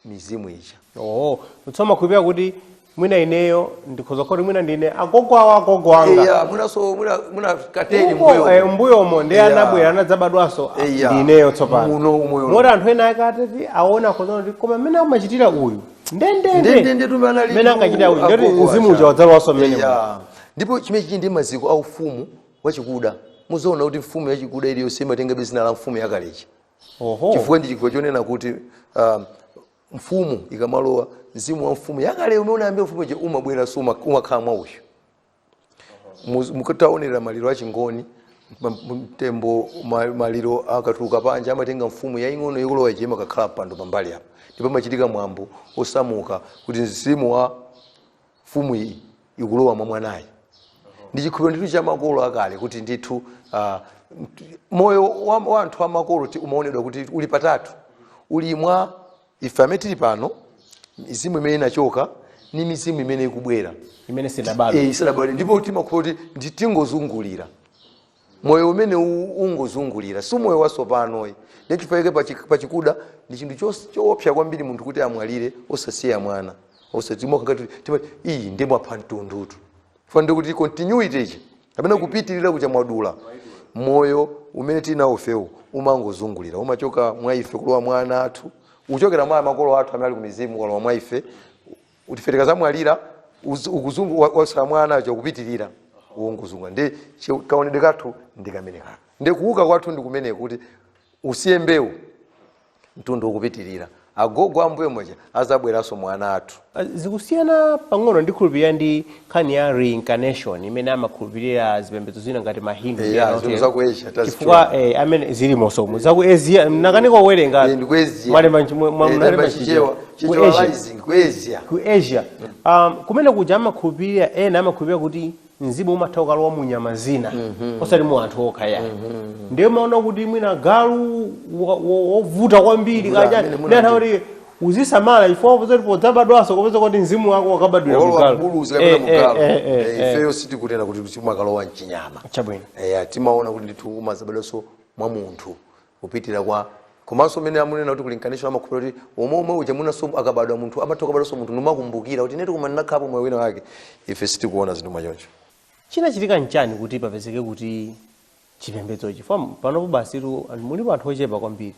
mizimu ija. Oh, tsono mumakhulupirira kuti mwina ineyo ndikhoza kuti mwina ndine agogo awo agogo anga Eya, mwinaso mwina mwina kaleni Uko, mbuyo. eh, mbuyomo ndi Eya. anabwera anadzabadwanso ah, Eya. ndi ineyo tsopano Muno umoyo. moti anthu ena ake atati aona akhoza kunena kuti koma mmene amachitira uyu Ndendende ndendende tumbe anali mmene ankachitira uyu ndoti agogo mzimu aja. uja wadzalowanso mmenemo Eya. Ndipo chimene chili ndi maziko a ufumu wachikuda. Muzoona kuti mfumu yachikuda iliyonse imatenga dzina la mfumu yakale ija. Oho. chifukwa ndi chikhulupiriro chonena kuti um, mfumu ikamalowa mzimu wa mfumu yakale umene unayamba ufumu uja umabweranso uma- umakhala mwa uyu Muz- mukataonera maliro a chingoni ma- mtembo ma- maliro akatuluka panja amatenga mfumu yaing'ono ikulowa ija imakakhala mpando pambali apa ndipo amachitika mwambo osamuka kuti mzimu wa mfumu iyi ikulowa mwa mwanayi ndi chikhulupiriro ndithu cha makolo akale kuti ndithu ah, mt- moyo wa wa anthu a makolo ti- umaonedwa kuti uli patatu uli mwa ife amene tili pano mizimu imene inachoka ndi mizimu imene ikubwera imene sinabadwe Eh, isanabwere ndipo timakhulupirira kuti ndi- tingozungulira moyo umene u- ungozungulira si moyo wasopanoyi ndichifukwa pachi- pachikuda ndi chinthu chos- choopsa kwambiri munthu kuti amwalire osasiya mwana iyi ndi mwapha mtundutu chifukwa nde kuti continuity ija kapena kupitirira kuja mwadula moyo umene tinawo ifewu umangozungulira umachoka mwa ife kulowa mwa ana athu uchokera mwa makolo athu amene ali ku mizimu kulowa mwa ife kuti ife tikazamwalira uz- ukuzungu wa- wasala mwa ana aja ukupitirira wongozunga ndi chi- kaonedwe kathu ndi kameneka ndi kuuka kwathu ndi kumeneko kuti usiye mbewu mtundu ukupitirira agogo ambuyo moja azabweranso mwa ana athu zikusiyana pang'ono ndi kukhulupirira ndi nkhani ya reincarnation imene amakhulupirira zipembedzo zina ngati mahindu ndi Eya, ena zinthu otero. za ku Asia, tazitchula. chifukwa eh, amene zilimoso mu za ku asia mnakanika kuwerenga Eh, ndi ku Asia. mwalemba nchi- mwa- mwa- Eh, mwalemba talemba chichewa chichewa. Ku chichewa Asia. rising ku asia ku asia um, kumene kuja amakhulupirira ena amakhulupirira kuti mzimu umatha ukalowa mu nyama zina osati mu anthu okha ayi ndiye maona kuti mwina galu wa- wa- wovuta kwambiri Mvula kaja amene muna ndi anthu kuti uzisamala chifukwa upeza kuti podzabadwanso kupeza kuti mzimu wako wakabadwira mu olowa galu. mbuluzi kapena Eh, mu eh, galu eh, eh, Eh, eh. ifeyo sitikunena kuti timakalowa mchinyama Chabwino. Eh, timaona kuti ndithu umazabadwanso mwa munthu kupitira kwa komanso umene amunena kuti reincarnation amakhulupirira kuti omwe omwe uja munanso akabadwa munthu amatha kubadwanso munthu nkumakumbukira kuti inetu kumana nakhapo moyo wina wake ife sitikuona zinthu mwachoncho chinachitika nchani kuti papezeke kuti chipembedzo chifukwa panopo basitu anthu- mulipo anthu ochepa kwambiri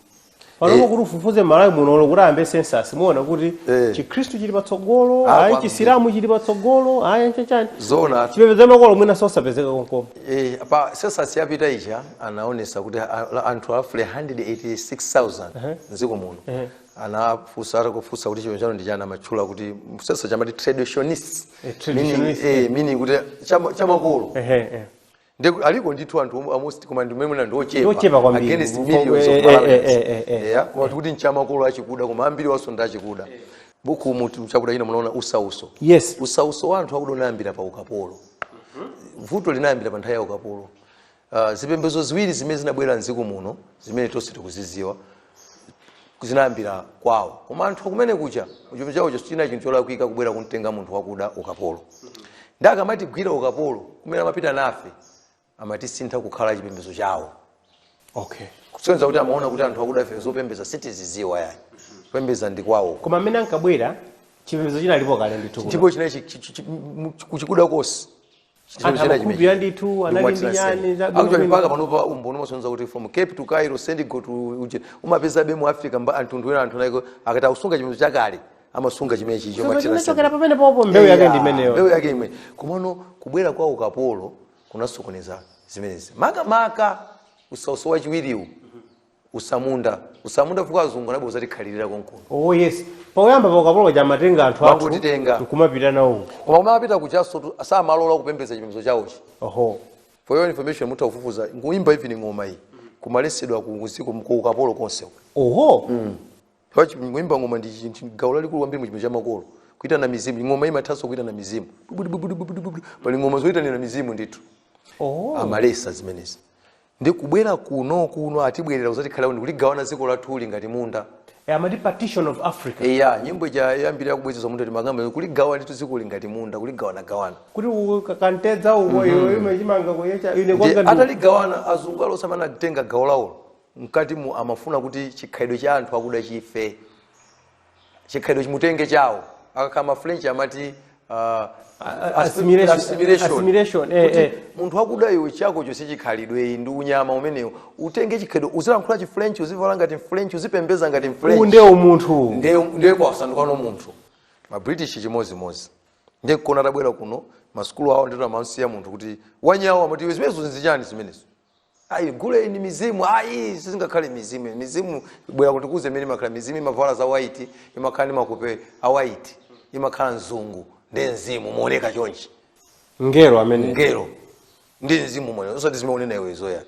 panopo kuti ufufuze malawi munolo kuti ayambe sensasi muona kuti Eh. chikhristu chili patsogolo Ah, ayi kwambiri. chisilamu chili patsogolo ayi chachani zoona chipembedzo amakolo mwina chosapezeka konkomo Eh, pa sensasi yapita ija anaonesa kuti a- a- anthu pafupi 186000 mdziko muno anafunsa atakufunsa kuti chipembedzo chanu ndi chani amatchula kuti sensasi chamati traditionist Eh, traditionalist, Meaning- eh, meaning kuti chama- chamakolo Ehe, ehe. Nde aliko ndithu anthu omwe almost koma ndi mmene ndi ochepa. Ndi ochepa kwambiri. Against Mpo- millions eh, of eh, Malawians. eh, eh, eh. Yeah, koma tikuti nchamakolo achikuda koma ambiri wanso ndi achikuda. Buku mu chakuda china munaona usautso. yes Usautso wa anthu akuda unayambira pa ukapolo. Vuto linayambira pa nthawi ya ukapolo. Uh, zipembedzo ziwiri zimene zinabwera mdziko muno zimene tonse tikuzidziwa zinayambira kwawo koma anthu akumene kuja chipembedzo chawo china chinthu cholakwika kubwera kumtenga munthu wakuda ukapolo nde akamatigwira ukapolo kumene amapita nafe amatisintha kukhala chipembedzo chawo okay kusonyeza kuti amaona kuti anthu akuda ife zopembedza sitizidziwa ayi kupembedza ndi kwawo koma mmene ankabwera chipembedzo chinalipo kale ndithu kuno. ndipo chinachi kuchikuda kosi Chinthu Anthu china amakhulupirira chimenechi. ndithu, Ndikuwa anali ndi tinasema. nyani za bwino Actually, bwino. mpaka panopa umboni umasonyeza kuti from cape to cairo sendigo to uje umapezabe mu africa mba anthu ndiwena anthu naiko akati akusunga chipembedzo chakale amasunga chimene chicho Chomwe chinachokera pamene popo mbewu yake ndi imeneyo mbewu yake imene komano kubwera kwa ukapolo kunasokoneza zimenezi makamaka usautso wachiwiriwu utsamunda utsamunda chifukwa azungu anabwera kudzatikhalira konkuno oh yes pauyamba paukapolo kaja amatenga anthu athu Mangotitenga. nkumapita nawo uko koma kumene amapita kujaso tu- samalola kupembedza chipembedzo chawochi oho for your information mutha kufufuza kuimba even ng'oma iyi kumaletsedwa ku usiku ku ukapolo konse oho paja kuimba ng'oma ndi chi- chi- gawo lalikulu kwambiri mu chipembedzo cha makolo kuitana mizimu ng'oma imathanso kuitana mizimu Bubudu, bubudu, bubudu, bubudu. pali ng'oma zoitanira mizimu ndithu oho amaletsa zimenezi Ndi kubwera kuno, kuno, atibwerera kudzatikhalira kuno, ndi kuligawana dziko lathuli ngati munda. E, amati partition of Africa. Eya, nyimbo ija yambiri kubwezedwa munthu ndi makamba imene analigawana ndithu dzikoli ngati munda, kuligawanagawana. Kuti uko ka- kantedza uko iwe imwe chimanga kuyecha ine Ndiye kwanga ndi ataligawana azungu aliyense amene anatenga gawo lawolo mkati mu amafuna kuti chikhalidwe cha anthu akuda chife. chikhalidwe chimene titenge chawo akakhala mafrench amati uh, a- a- assimilation. assimilation. Assimilation, eh, Kuti eh. munthu wakuda iwe chako chonse chikhalidwe ndi unyama umenewo utenge chikhalidwe uzilankhula chifrench uzivala ngati mfrench uzipembeza ngati mfrench ndiye umunthu ndiye ndiye wasandukano munthu mabritish chimodzimodzi ndiye kuona atabwera kuno masukulu awo ndithu amamsiya munthu kuti wanyawo amati iwe zimenezo nzichani zimenezo ayi guleyu ndi mizimu ayi sizingakhale mizimu mizimu imabwera kuti kuze imene imakhala mizimu imavala za white imakhala ndi mapiko a white imakhala mzungu ndi mzimu umaoneka chonchi ngelo amene ngelo ndi mzimu moyo osati zimene ukunena iwe zoya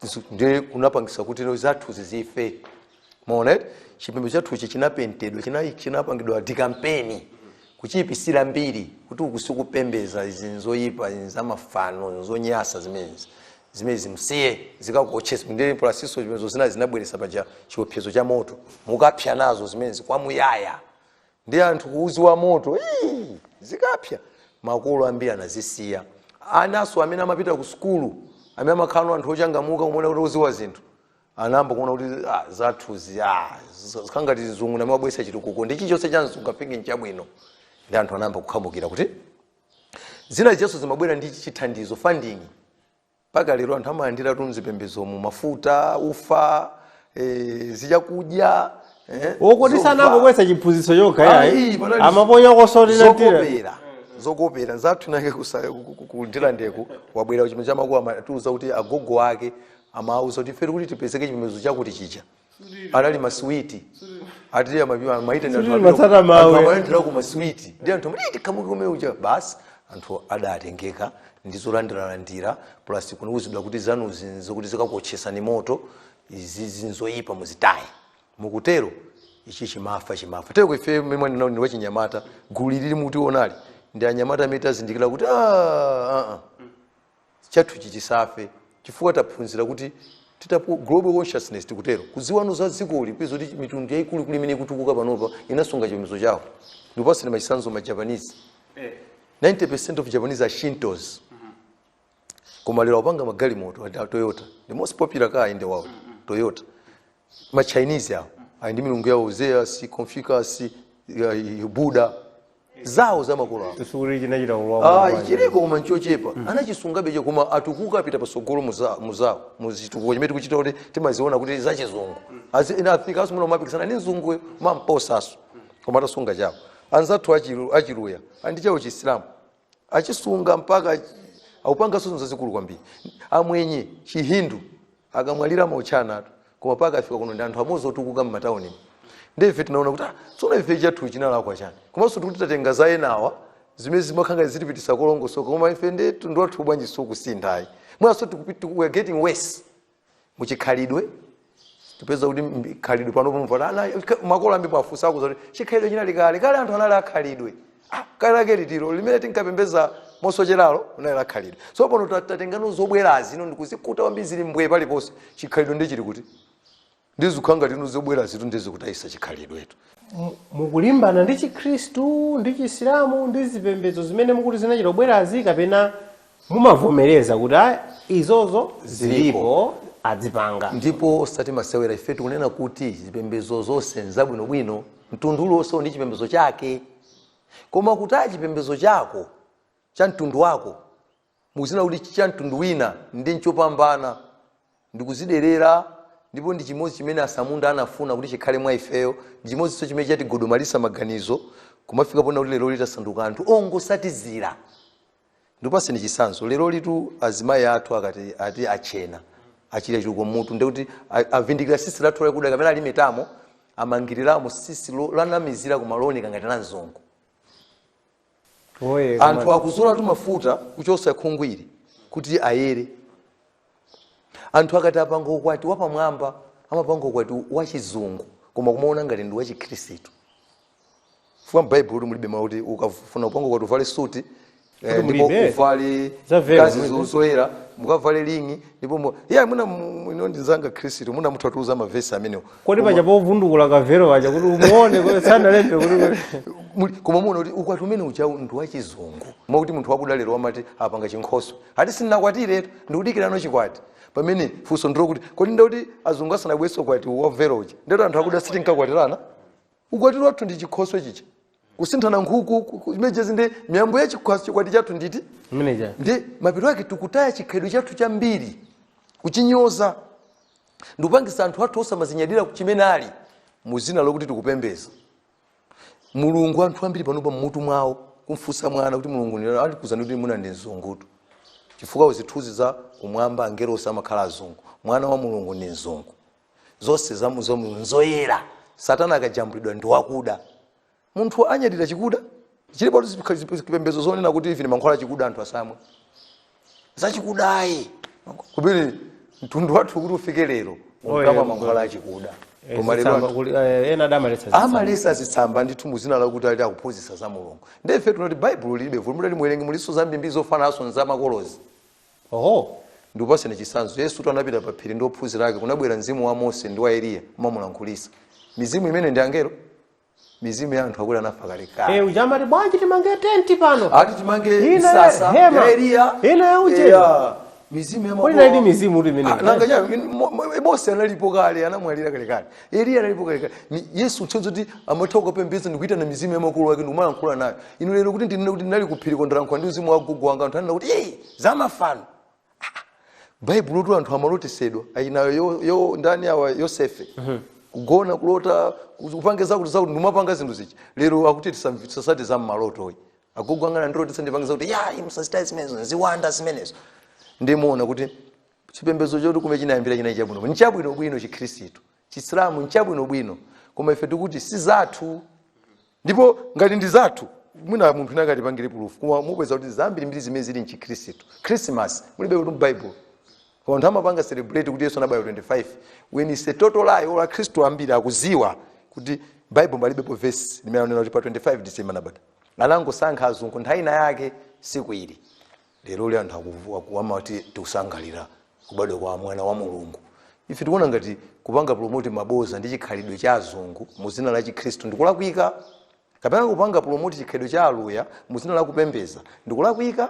Zisu- ndi kunapangisa kuti no zathu zizife mona chipembedzo chathuchi chinapentedwa china- chinapangidwa dikampeni kuchiyipisira mbiri kuti uku sikupembeza izi nzoyipa izi zamafano nzonyasa zimenezi zimenezi musiye zikakuotchesani ndi pulasinso chipembedzo zina zinabweretsa paja chiopsezo cha moto mukapsa nazo zimenezi kwamuyaya ndi anthu kuuziwa moto ii, zikapsa makolo ambiri anazisiya anaso amene amapita ku sukulu amene amakhalano anthu ochangamuka kumaona kuti oziwa zinthu anayamba kuona kuti ah, zathuzi ah, z- tikhale ngati mzungu ndi amene abweresa chitukuko ndi chilichonse cha mzungu nde nchabwino ndi anthu anayamba kukhamukirako kuti zina zinthuso zimabwera ndi chithandizo funding mpaka lero anthu amalandiratu mzipembezomu mafuta ufa eh, zichakudya eh, zokuti zomvala. sanangobwesa chiphunzitso chokha yayi Ayi, panali amaponya kosolira zokopera zokopera zathu nake kusa- ku- ku- ku- kuNdirande uku wabwera chimene chamakulu amatiuza kuti agogo ake amawauza kuti ife tikuti tipezeke kuchipembedzo chakuti chija anali maswiti ati amatsata mawu amaendera ku maswiti ndi anthu amati tikhamuke kumene kuja basi anthu adatengeka ndi zolandiralandira plus kumauzidwa kuti zanuzi nzokuti zikakuotchesani moto izizi nzoyipa muzitaye mukutero ichi chimafa chimafa ndiyeno ife mimwe ndinao ndi wachinyamata gulu ili mukutiwonali ndi anyamata amene tazindikira kuti "Ah, ah, ah." chathuchi chisafe chifukwa taphunzira kuti timati global consciousness titero kudziwano za dzikoli kudziwa kuti mitundu yaikulukulu imene ikutukuka panopa inasunga chipembedzo chawo ndikupasani chisanzo ma japanese 90 percent of japanese are shintos koma lero akupanga magalimoto a toyota the most popular car in the world toyota ma chinese awo ali ndi milungu yawo zeus confucius eh, buddha zawo za makolo awo sikuti chinachita kulowa Ah, chiliko koma nchochepa anachisungabe choncho koma atukuka apita pasogolo muza- m'zawo m'chitukuko chimene tikuchita kuti timaziona kuti zachizungu Azi- ena afikanso pomapikisana ndi mzunguyo n'kumamposanso koma atasunga chawo anzathu Achilu- Achiluya ali ndi chawo chisilamu achisunga mpaka akupanga zinthu zazikulu kwambiri amwenye chihindu akamwalira amaotchanatu koma mpaka afika kuno ndi anthu amodzi otukuka m'matawuni ndi ife tinaona kuti ah, tsono ife chathu chinalakwa chani komanso sikuti tatenga za enawa zimene zimakhala zikutipititsa kolongosoka koma ife ndi mtundu wathu bwanji sukusintha ayi mwinanso tikupi- tiku- we are getting worse muchikhalidwe tipeza kuti khalidwe pano pamvota ana ka- makolo ambiri ukawafunsa akuuza kuti chikhalidwe chinali kale kale anthu anali akhalidwe Ah, kale lake litilo limene tinkapembeza mosocheralo unali lakhalidwe so pano ta- tatenga zobwerazi ino ndikuzikuta kwambiri zili mbwe paliponse chikhalidwe ndi chili kuti ndizikhala ngati ino zobwerazitu ndi zikutayitsa chikhalidwetu Mu- mukulimbana ndi chikhristu ndi chisilamu ndi zipembedzo zimene mukuti zinachita kubwerazi kapena mumavomereza kuti ayi izonso zilipo adzipanga ndipo osati masewera ife tikunena kuti zipembedzo zonse n'zabwinobwino mtundu uliwonse uli ndi chipembedzo chake koma kutaya chipembedzo chako cha mtundu wako m'dzina kuti cha mtundu wina ndi chopambana ndi kudziderera ndipo ndi chimodzi chimene atsamunda anafuna kuti chikhale mwa ifeyo ndi chimodzinso chimene chatigodomalitsa maganizo kumafika poona kuti leroli tasanduka anthu ongotsatizira ndikupatseni chitsanzo lerolitu azimai athu akati ati atchene atchira chiduku m'mutu ndekuti avindikira tsitsi lathu lakuda kapena alimetamo amangiriramo tsitsi lo- lonamizira koma looneka ngati la mzungu Oye, koma- anthu akuzolatu mafuta kuchotsa khunguli kuti ayere anthu akati apange ukwati wapamwamba amapanga ukwati wachizungu koma kumaona ngati ndi wachikhristu chifukwa m'baibulo mulibe mawu kuti ukafuna kupanga ukwati uvale suti eh, Kuti ndipo mulibe? uvale Za velo kazi mulibe? zoyera mukavale ring ndipo mu- iye mwina mu- inu ndi mnzanga mkhristu mwina mutha kutiuza mavesi amenewo kodi paja povundukula kavelo paja kuti umuone kuti sanalembe kuti Muli- koma muona kuti ukwati umene uja ndi wachizungu mwakuti munthu wakuda lero amati akapanga chinkhoswe ati sindinakwatiretu ndikudikira chikwati pamene funso ndi lokuti kodi ndikuti azungu asanabweretse ukwati wa velo uja ndikuti anthu akuda sitinkakwatirana ukwati wathu ndi chinkhoswe chija kusinthana nkhuku ku- ku- images ndi miyambo ya chikhwasi chikwati chathu nditi Manager. ndi mapiro ake tikutaya chikhalidwe chathu chambiri kuchinyoza ndikupangitsa anthu athu osamadzinyadira chimene ali m'dzina lokuti tikupembeza mulungu anthu ambiri panopa mmutu mwawo kumfunsa mwana kuti mulungu ndi- akuuzani kuti mulungu ndi mzungutu chifukwa zithunzi za kumwamba angelo onse amakhala azungu mwana wa mulungu ndi mzungu zonse za mzungu nzoyera satana akajambulidwa ndi wakuda munthu anyadira chikuda chilipo zipembezo zonena kuti musamwe mankhwala chikuda anthu asamwe zachikudayi komatu mtundu wathu kuti ufike lero unkamwa mankhwala achikuda Eh, koma lero zitsamba anthu- kuli- eh, ena adamaletsa zitsamba. amaletsa zitsamba ndithu muzina lakuti ali akuphunzitsa za mulungu ndefe tinati baibulo lilibe vuto mutati muwerenge mulinso zambiri zofanananso nzamakolozi Oho, ndikupatseni chitsanzo. Yesutu anapita pa phiri ndi ophunzira ake, kunabwera mzimu wa Mose ndi wa Eliya kumamulankhulitsa. Mizimu imeneyi ndi angelo? Mizimu ya anthu akuti anafa kale Eh, kale. uja amati bwanji timange tenti pano. Ati timange Ina msasa hema. ya Eliya. Ina ya uje. Eya, mizimu ya Kodi makolo. ndiyedi mizimu kuti imeneyi? Ah, nanga chani, min- mo- mo- Mose analipo kale, anamwalira kale kale. eliya analipo kalekale Ni- yesu kusonyeza kuti amatha kukapembedza ndikuyitana mizimu ya makolo ake ndikumalankhula nayo ine lero kuti ndinene kuti ndinali kuphiri kukalankhula ndi mzimu wa gogo wanga anthu anena kuti "Ee, zamafano baibulotu anthu amalotetsedwa ayinayo yo, yo ndani awa yosefe kugona kulota kupange zakuti zakuti nkumapanga zinthu zija lero akuti tisam- tisatsate za mmalotoyi agogo anga anandilotetsa ndipange zakuti ayi musachite zimenezo ziwanda zimenezo ndiye muona kuti chipembedzo chonse kumene chinayambira chinali chabwino nchabwinobwino chikhristu chisilamu nchabwinobwino koma ife tikuti si zathu ndipo ngati ndi zathu mwina munthu wina angatipangire pulufu koma mupeza kuti zambirimbiri zimene zili mchikhristu khrisimasi mulibetu mbaibulo koma anthu amapanga celebrate kuti yesu anabadwa 25 which is a total lie olo akhristu ambiri akudziwa kuti baibulo palibepo vesi limene anena kuti pa 25 december anabadwa anangosankha azungu nthawi ina yake tsiku ili leroli anthu akuvu- aku- amati tikusangalalira kubadwa kwa mwana wa mulungu ife tikuona ngati kupanga promote maboza ndi chikhalidwe cha azungu mu dzina la chikhristu ndikulakwika kapena kupanga promote chikhalidwe cha aluya mu dzina la kupembedza ndikulakwika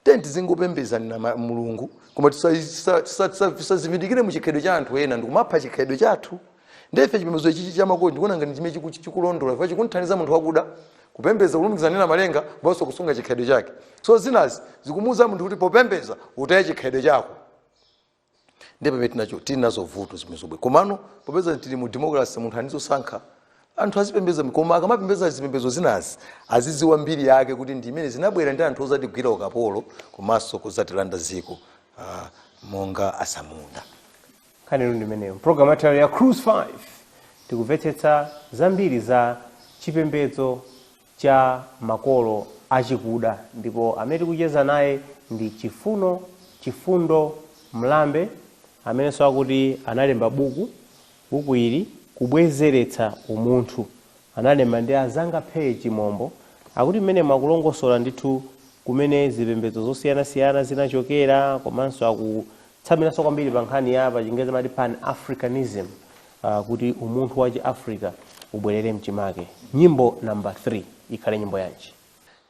tiyeni tizingopembedza ma- mulungu koma tisadzivindikire mu chikhalidwe cha anthu ena ndikumapha chikhalidwe chathu ndiye ife chipembedzo ichichi cha makolo ndikuona ngati chimene chiku- chikulondoloza chifukwa chikumthandiza munthu wakuda kupembedza kulumikizana ndi namalenga komanso kusunga chikhalidwe chake so zinazi zikumuuza munthu kuti popembedza utaye chikhalidwe chako ndiye pamene tinakachoka tili nazo vuto zimenezo basi komano popeza tili mu democracy munthu azisankha anthu azipembedza koma akamapembedza zipembedzo zinazi azidziwa mbiri yake kuti ndi zimene zinabwera ndi anthu ozatigwira ukapolo komanso kudzatilanda dziko ah, monga atsamunda nkhaniyo ndi imeneyo program yathu yalero ya cruise 5 tikumvetsetsa zambiri za chipembedzo cha makolo achikuda ndipo amene tikucheza naye ndi chifuno chifundo mlambe amenenso akuti analemba buku buku ili kubwezeretsa umunthu analemba ndi azanga Steve chimombo akuti mmenemu akulongosola ndithu kumene zipembedzo zosiyanasiyana zinachokera komanso aku Tsamiranso kwambiri pa nkhani ya pachingerezi amati pan-Africanism, ah, kuti umunthu wa chiafrica ubwerere mchimake. Nyimbo number 3 ikhale nyimbo yanji?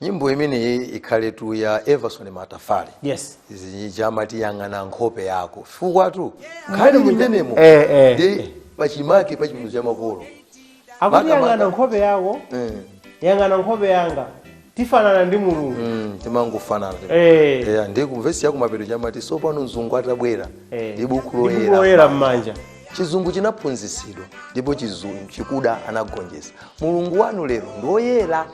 nyimbo imeneyi ikhaletu ya Evison Matafale Yes. ija amati yang'ana nkhope yako chifukwatu nkhani ili m'menemo Eh, eh. ndi pachimake pa chipembedzo cha makolo Akuti yang'ana Makamaka. nkhope yako Mm. yang'ana nkhope yanga tifanana ndi mulungu Mm, timangofanana Eh. yeah, ndiye vesi yakumapeto ija amati sopano mzungu atabwera Eh. ndi buku Ndi buku loyera m'manja chizungu chinaphunzitsidwa ndipo chikuda anagonjesa mulungu wanu lero ndi woyera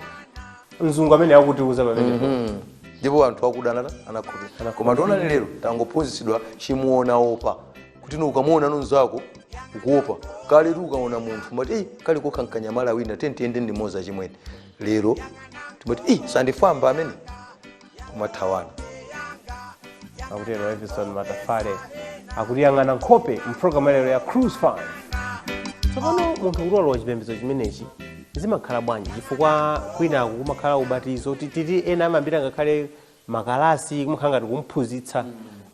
mzungu amene akutiuza pamenepo Mm. ndipo anthu akuda anata anakhulupirira koma taonani lero tangophunzitsidwa chimuona opa kuti ukamuona mnzako ukuopa kaletu ukaona munthu umati ei kali kokha nkanyama wina tiyeni tiyende limodzi achimwene lero timati ei sandifwamba amene kumathawana akutero Evison Matafale akuti yang'ana nkhope mpulogalamu yalero ya Cruise 5 tsopano munthu kuti walowa chipembedzo chimenechi zimakhala bwanji chifukwa kwinaku kumakhala ubatizo tititi ena amayambira ngakhale makalasi kumakhala ngati kumphunzitsa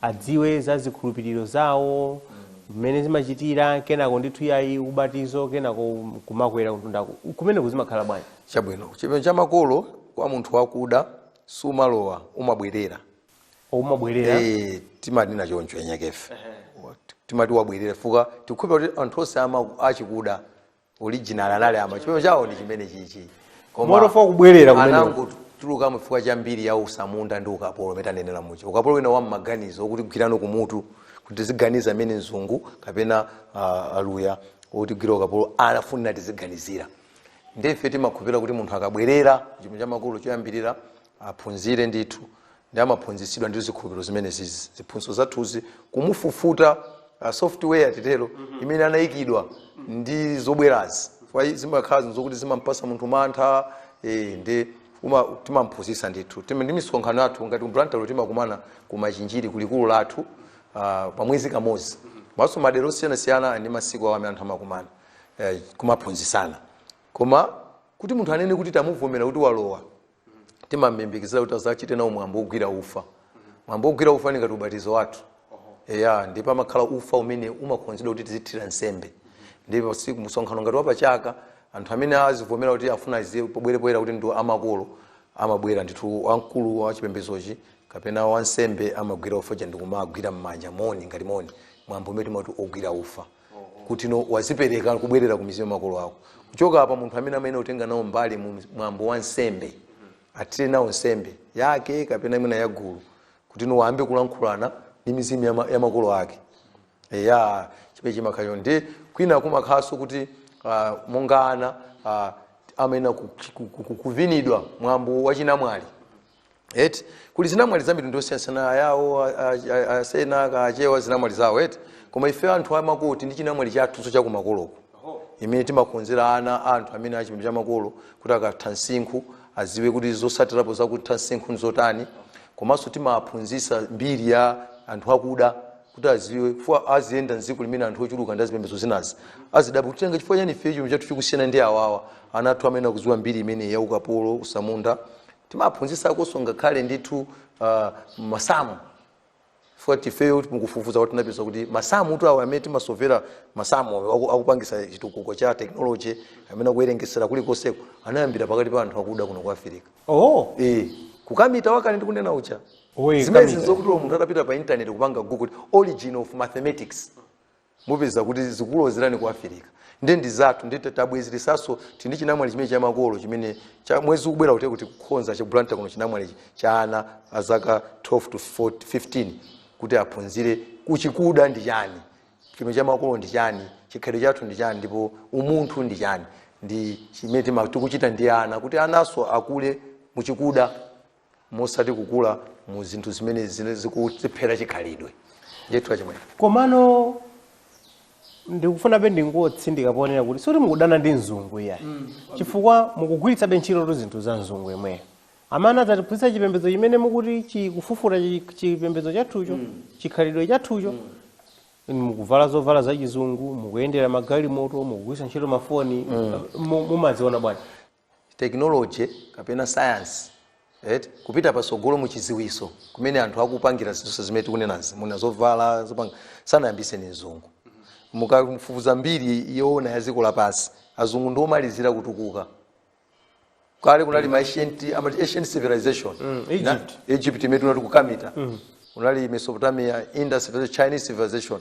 adziwe za zikhulupiriro zawo mmene zimachitira kenako ndithu yayi ubatizo kenako kumakwera kumtundako kumeneku zimakhala bwanji chabwino chipembedzo cha makolo kwa munthu wakuda sumalowa umabwerera umabwerera Eh, timanena choncho eni akefe timati wabwerera chifukwa tikukhulupira kuti anthu onse ama- achikuda original anali ama chipembedzo chawo ndi chimenechichi motofa kubwerera kumene anangotulukamo chifukwa cha mbiri ya usamunda ndi ukapolo umene tanenera muja ukapolo wina wa mmaganizo okutigwirano kumutu kuti tiziganiza mmene mzungu kapena uh, aluya otigwira ukapolo anafunira tiziganizira ndife timakhupira kuti munthu akabwerera chipembedzo cha makolo choyambirira aphunzire ndithu ndi amaphunzitsidwa ndi zikhulupiriro zimenezizi ziphunzitso zathuzi kumufufuta uh, software titero imene anayikidwa ndi zobwerazi Kwa i- zimakhala zinthu zokuti zimampasa munthu mantha eh, ndi uma- timamphunzitsa ndithu Tim- ndi misonkhano yathu ngati mu Blantyre timakumana ku Machinjiri kulikulu lathu uh, pa mwezi kamodzi komanso madera osiyanasiyana ndi masiku awo amene anthu amakumana eh, kumaphunzitsana koma kuti munthu anene kuti tamuvomera kuti walowa timamlimbikitsira kuti azachite nawo mwambo wogwira ufa mwambo wogwira ufa ndi ngati ubatizo wathu eya ndipo amakhala ufa umene umakonzedwa kuti tizithira nsembe ndipo siku msonkhano ngati wapachaka anthu amene azivomera kuti afuna adziwike pobwera poyera kuti ndi a makolo amabwera ndithu wamkulu wa chipembedzochi kapena wansembe amagwira ufa uja ndikumagwira m'manja moni ngati moni mwambo umene timati ogwira ufa kuti no wazipereka kubwerera ku mizimu ya makolo ako kuchoka apa munthu amene amayenera kutenga nawo mbali mu mwambo wa nsembe atire nawo nsembe yake kapena imene ya gulu kuti no ayambe kulankhulana ndi mizimu ya ma- ya makolo ake eya chimene chimakhala tsono ndi kwina kumakhalanso kuti ah, monga ana ah, amayenera ku- ku- ku- kuvinidwa mwambo wachinamwali eti kuli zinamwali za mitundu yosiyanasiyana ayawo a- a- a- asena achewa zinamwali zawo eti koma ife timati kuti ndi chinamwali chathunso chakumakoloku chimene timakonzera ana a anthu amene achipembedzo cha makolo kuti akatha msinkhu aziwe kuti zosatirapo zakutha msinkhu nzotani komanso timaphunzisa mbiri ya anthu akuda kuti aziwe chifukwa aziyenda mdziko limene anthu ochuluka ndi azipembedzo zinazi azidabwa kuti nanga chifukwa chani ife chikhalidwe chathu chikusiyana ndi awawa ana athu amenewa aziziwa mbiri imene ya ukapolo utsamunda timaphunzisakonso ngakhale ndithu uh, masamu chifukwa ifeyo mukufufuza tinapeza kuti masamutu awo amene timasovera masamu awo aku- akupangisa chitukuko cha technology amene akuyerengesera kulikonseko anayambira pakati pa anthu akuda kuno ku afirika oh Eh, ku Kemet wakale ndikunena ucha Oye, zimene Kemet. ndi zokuti uwo munthu atapita pa intaneti kupanga google kuti origin of mathematics mupeza kuti zikukulozerani ku afirika nde ndi zathu nde ta- tabwezeretsanso tili ndi chinamwali chipembedzo cha makolo chimene cha mwezi ukubwerawu tikukonza cha Blantyre kuno chinamwali cha ana a zaka 12 to 14 15 kuti aphunzire kuti chikuda ndi chani chipembedzo cha makolo ndi chani chikhalidwe chathu ndi chani ndipo umunthu ndi chani ndi chimene tima- tikuchita ndi ana kuti ananso akule muchikuda osati kukula mu zinthu zimene zina zikutiphera chikhalidwe ndithu achimwene komano ndikufunabe ndingotsindika ponena kuti sikuti mukudana ndi mzungu iya chifukwa mukugwiritsabe ntchito tu zinthu za mzungu yemweyo amene adzatiphunzitsa chipembedzo chimene mukuti chikufufuta chi- chipembedzo chathucho chikhalidwe chathucho mukuvala zovala za chizungu mukuyendera magalimoto mukugwiritsa ntchito mafoni mu- mumaziona bwanji tekinoloje kapena sayansi, eti, kupita patsogolo mu chidziwitso, kumene anthu akupangira zinthu zonse zimene tikunenazi, mwina zovala, zopanga, sanayambitse ndi mzungu. Mukafufuza mbiri yoona ya dziko lapansi, azungu ndi omalizira kutukuka. Kale kunali ma ancient, amati ancient civilization. Mm, Na- Egypt. Egypt imene timati Kemet. Kunali Mesopotamia, Indus, Chinese civilization.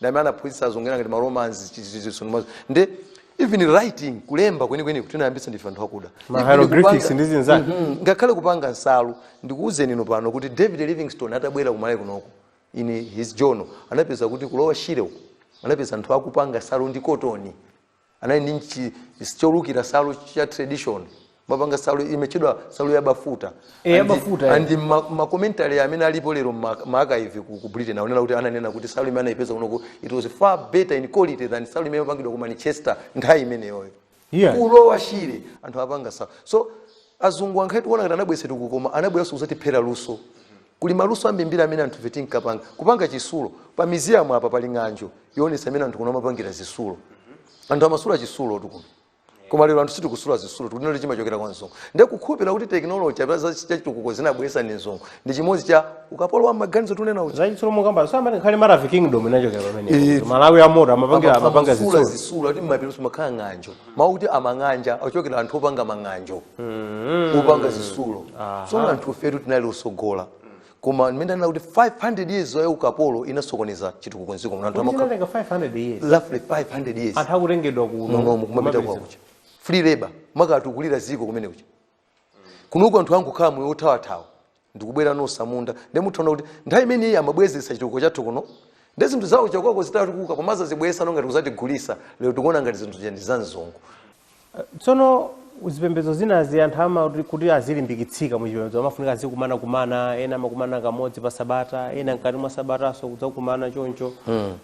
ndi amene anaphunzitsa azunguwa ngati maromans chichichiso ndimazo nde even writing kulemba kwenikweni kuti tinayambitsa ndife anthu akuda Ma hieroglyphics kupanga- ndi zinzake. Mhm. ngakhale kupanga nsalu ndikuwuzeni inu pano kuti david livingstone atabwera ku Malawi kunoko in his journal anapeza kuti kulowa shire uku anapeza anthu akupanga nsalu ndi kotoni anali ndi nchi is- cholukira nsalu cha tradition amapanga nsalu imatchedwa nsalu ya bafuta Eh, ya And- bafuta, eh. and ma- makomentari amene alipo lero mma- maakaivi ku ku britain akunena kuti ananena kuti nsalu imene anayipeza kunoko it was far better in quality than nsalu imene yopangidwa ku manchester nthawi imeneyoyo Yeah. kulowa shire anthu akupanga nsalu so azungu ngakhale tikuona kuti anabweretsa chitukuko koma anabweranso kudzatiphera luso Kuli maluso ambimbiri amene anthufe tinkapanga. Kupanga chitsulo. Pa miziyamu apa pali ng'anjo yoonetsa mmene anthu kuno amapangira zitsulo. Anthu amasula chitsulotu kuno. Koma lero anthu sitikusula zitsulo, tikunena kuti chimachokera kwa mzungu. Ndiye kukhulupirira kuti tekinoloji kapena za chitukuko anabweretsa ndi mzungu ndi chimodzi cha ukapolo wa m'maganizo tikunena uja. Zachitsulo mukamba amati ngakhale Maravi Kingdom inachokera pamenepo. Eh, Kuti Malawi amoto amapangira amapanga Amasula zitsulo. zitsulo ati m'mapeto mumakhala ng'anjo. Mawu kuti amang'anja achokera anthu opanga mang'anjo. mm. opanga zitsulo so anthufetu tinali otsogola koma mmene anena kuti 500 years ya ukapolo inasokoneza chitukuko mdziko muno anthu amakhala Kuti chinatenga 500 years roughly 500 years anthu akutengedwa kuno munomu kumapita kumapititsa- kwakuja free labor kumakatukulira dziko kumene kuja kunoku anthu angokhala moyo othawathawa ndikubwera ndi atsamunda nde mutha kuona kuti nthawi imene ija amabwezeretsa chitukuko chathu kuno nde zinthu zawo chakonko zitatukuka komanso azibweretsano ngati kudzatigulitsa lero tikuona ngati zinthu zija ndi za mzungu tsono zipembedzo zinazi amati ama kuti- kuti azilimbikitsika mu chipembedzo amafunika azikumanakumana ena amakumana kamodzi pa sabata ena mkati mwa sabatanso kudzakumana choncho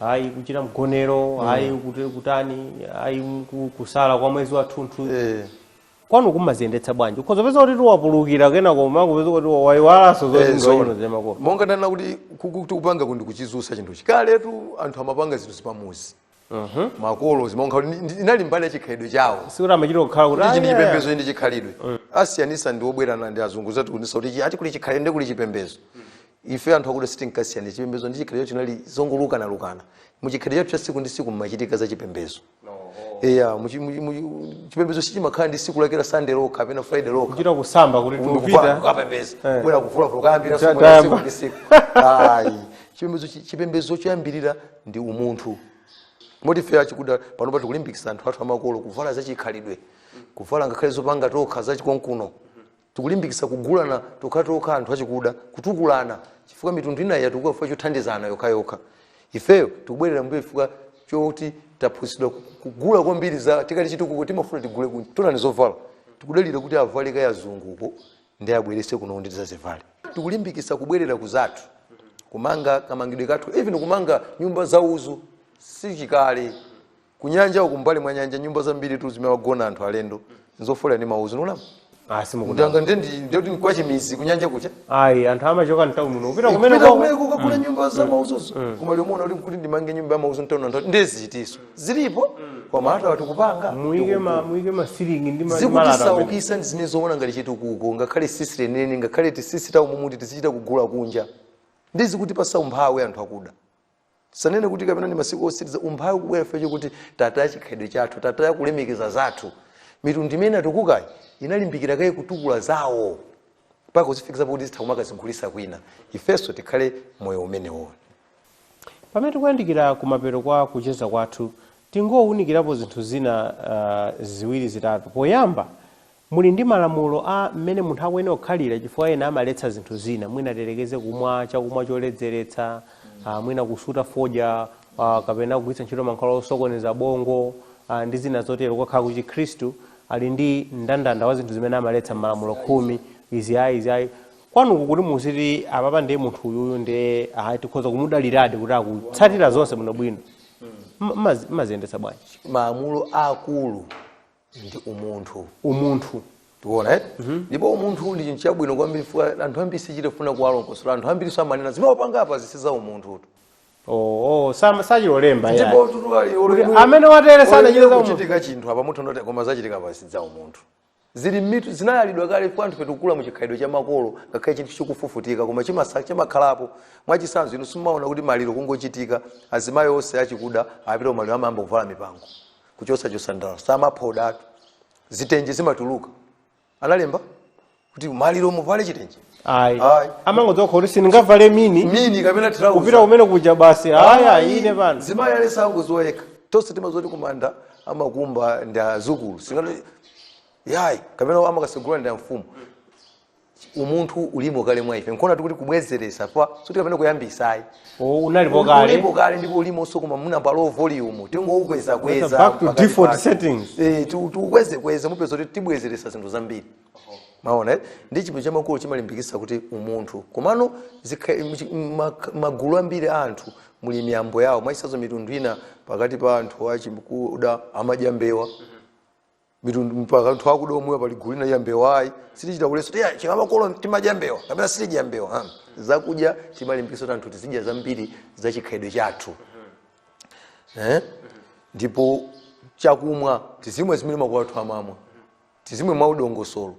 ayi kuchita mgonero ayi kuti- kutani ayi ku- kusala kwa mwezi wathunthu Eh. kwanu kumaziyendetsa bwanji ukhoza kupeza kuti tiwapulukira kenako mukupeza kuti waiwalanso Eh, zoti zoona. koma ifeyo zamakolo monga ndanena kuti kuti kupanga kundi kuchizusa chinthuchi kaletu anthu amapanga zinthu zipamuzi makolo zimonga kuti ndi- inali mbali ya chikhalidwe chawo sikuti amachita kukhala kuti ichi ndi "Ah, yeah." chipembedzo ichi chikhalidwe asiyanitsa ndi obwerana ndi azungu adzatiphunzitsa kuti ichi- ati kuli chikhalidwe ndi kuli chipembedzo ife anthu akuda sitinkasiyanitsa chipembedzo ndi chikhalidwe zinali zongolukana-lukana mu chikhalidwe chathu cha siku ndi siku mmachitika za chipembedzo eya muchi- muchi- muchi- chipembedzo sichimakhala ndi siku lake la sunday lokha kapena friday lokha kuchita kusamba kuti tikupita kukapembedza Eh. kubwera kuvulavula kuyambira Cha- siku la tayamba. siku ndi siku ayi chipembedzo chi- chipembedzo choyambirira ndi umunthu moti ife achikuda panopa tikulimbikitsa anthu athu amakolo kuvala zachikhalidwe kuvala ngakhale zopanga tokha zachikonkuno Tikulimbikitsa kugulana tokhatokha anthu achikuda, kutukulana chifukwa mitundu inayi yatukuka chifukwa chothandizana yokhayokha. Ifeyo tikubwerera m'mbuyo chifukwa choti taphunzitsidwa ku- ku- kugula kwambiri za tikati chitukuko timafuna tigule kunja. Tonani zovala. Tikudalira kuti avale kaye azunguko ndiye abweretse kuno kuti tidzazivale. Tikulimbikitsa kubwerera ku zathu. Kumanga kamangidwe kathu, even kumanga nyumba zauzu si chikale. kunyanja uku mbali mwa nyanja nyumba zambiri tu zimene amagona anthu alendo nzofolera ndi maudzu nulama Ah, simukudala. ndanga ndendi ndekuti nkwachimizi kunyanja kuja Ayi, anthu amachoka mtawuni muno. Kupita Kupita kumene kwa kumene kukagula nyumba za maudzuzo koma liomona kuti kuti ndimange nyumba ya maudzu mtawuni anthu ndezitiso zilipo koma hata wati kupanga muike ma muike ma ceiling ndi ma- malata. amene- zikutisaukitsa ndi zimene zoona ngati chitukuko ngakhale tsitsi lenileni ngakhale tsitsi lawo mumati tizichita kugula kunja ndi zikutipatsa umphawi anthu akuda sanene kuti kapena ndi masiku otsiriza umphawi kubwera chifukwa chokuti tataya chikhalidwe chathu tataya kulemekeza zathu mitundu imene inatukukayi inalimbikira kaye kutukula zawo mpaka kuzifikitsa pakuti zitha kumakazigulitsa kwina ifenso tikhale moyo umenewo pamene tikuyandikira kumapeto kwa kucheza kwathu tingowunikirapo zinthu zina uh, ziwiri zitatu poyamba Muli ndi malamulo a mmene munthu akuyenera kukhalira chifukwa ena amaletsa zinthu zina, mwina tiyerekeze kumwa chakumwa choledzeretsa, a mwina kusuta fodya a kapena kugwiritsa ntchito mankhwala osokoneza bongo a ndi zina zotero. Ukakhala ku Chikhristu ali ndi mndandanda wa zinthu zimene amaletsa m'malamulo khumi, izi ayi, izi ayi. Kwanuko kuti muziti apapa ndiye munthu uyuyu ndiye ayi tikhoza kumudaliradi kuti akutsatira zonse bwinobwino, mma mumaziyendetsa bwanji? Malamulo aakulu ndi umunthu umunthu tiona eh? ndipo umunthu ndi chinthu chabwino kwambiri chifukwa anthu ambiri sitichita kufuna kuwalongosolera anthu ambiri amanena zimene wapanga apa izi si za umunthutu oh, oh, sam- sachita kulemba yeah. ndipo tutu ali Kuti amene watereyu sanachite za umunthu. kuchitika chinthu apa mutha kunena kuti koma zachitika apa si za umunthu zili m'mitu zinayalidwa kale kwa anthu amene takula mu chikhalidwe cha makolo ngakhale chinthu chikufufutika koma chimasa- chimakhalapo mwachitsanzo inu simumaona kuti maliro kungochitika azimayi onse achikuda apita kumaliro amayamba kuvala mipango kuchotsa nsandala samaphodanso zitenje zimatuluka analemba kuti maliro muvale chitenje ayi Ayi. amangodziwa kuti sindingavale mini mini kapena trouser. kupita kumene kuja basi aya Ayi, ine pano mzimayi aliyense amangodziwa yekha tonse timadziwa zoti kumanda amakumba ndi adzukulu singati yayi kapena amakasegula ndi amfumu umunthu ulimo kale mwa ife nkuona tikuti kubwezeretsa osati kapena kuyambitsa ayi O, unalipo kale ulipo kale ndipo ulimonso koma mwina pa low volume tingoukweza kweza That's back to pakati default pake. settings. eh tu- tuukweze kweza mupeza kuti tibwezeretsa zinthu zambiri mwaona eh? ndi chipembedzo cha makolo chimalimbikitsa kuti umunthu komano zikha- mchi- ma- magulu ambiri a anthu muli miyambo yawo mwachitsanzo mitundu ina pakati pa anthu achikuda amadya mbewa mitundu ina pakati pa anthu akuda omwe pali gulu lina ya mbewa ayi sitichita kuletsa kuti a chikamakolo timadya mbewa kapena sitidya mbewa ha. zakudya timalimbikitsa kuti anthu tizidya zambiri za chikhalidwe chathu eh? ndipo chakumwa tizimwe zimene makolo athu amamwa tizimwe mwadongosolo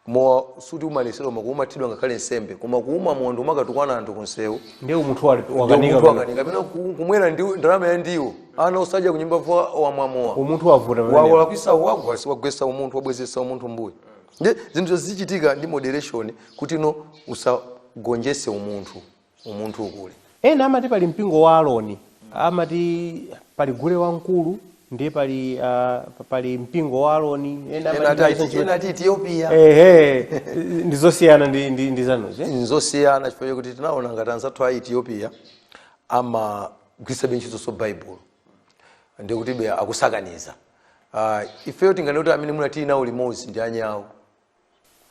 mowa suti umaletsedwa koma kumathidwa ngakhale nsembe koma kumwa mowa ndi kumakatukwana anthu kunsewu ndiye umunthu wali- Ndio wakanika munthu pamene. akanika pena ku- kumwera ndi ndalama ya ndiwo ana osadya kunyumba iwe wamwa mowa umunthu wavuta pamene. wawalakwisa wagwesa wagwesa umunthu wabwezesa umunthu mbuyo ndiye zinthu zizichitika ndi moderation kuti no usagonjese umunthu umunthu ukule ena amati pali mpingo wa aroni amati pali gule wamkulu ndiye pali ah, pali mpingo wa aroni ena amati ena pali- ati- ena ati ethiopia ehe ndi zosiyana ndi- ndi ndi zanuzi eh? nzosiyana chifukwa chakuti tinaona ngati anzathu a ethiopia amagwiritsabe ntchitoso baibulo ndiye kutibe akusakaniza uh, ifeyo tinganene kuti amene munati nawo limodzi ndi anyawo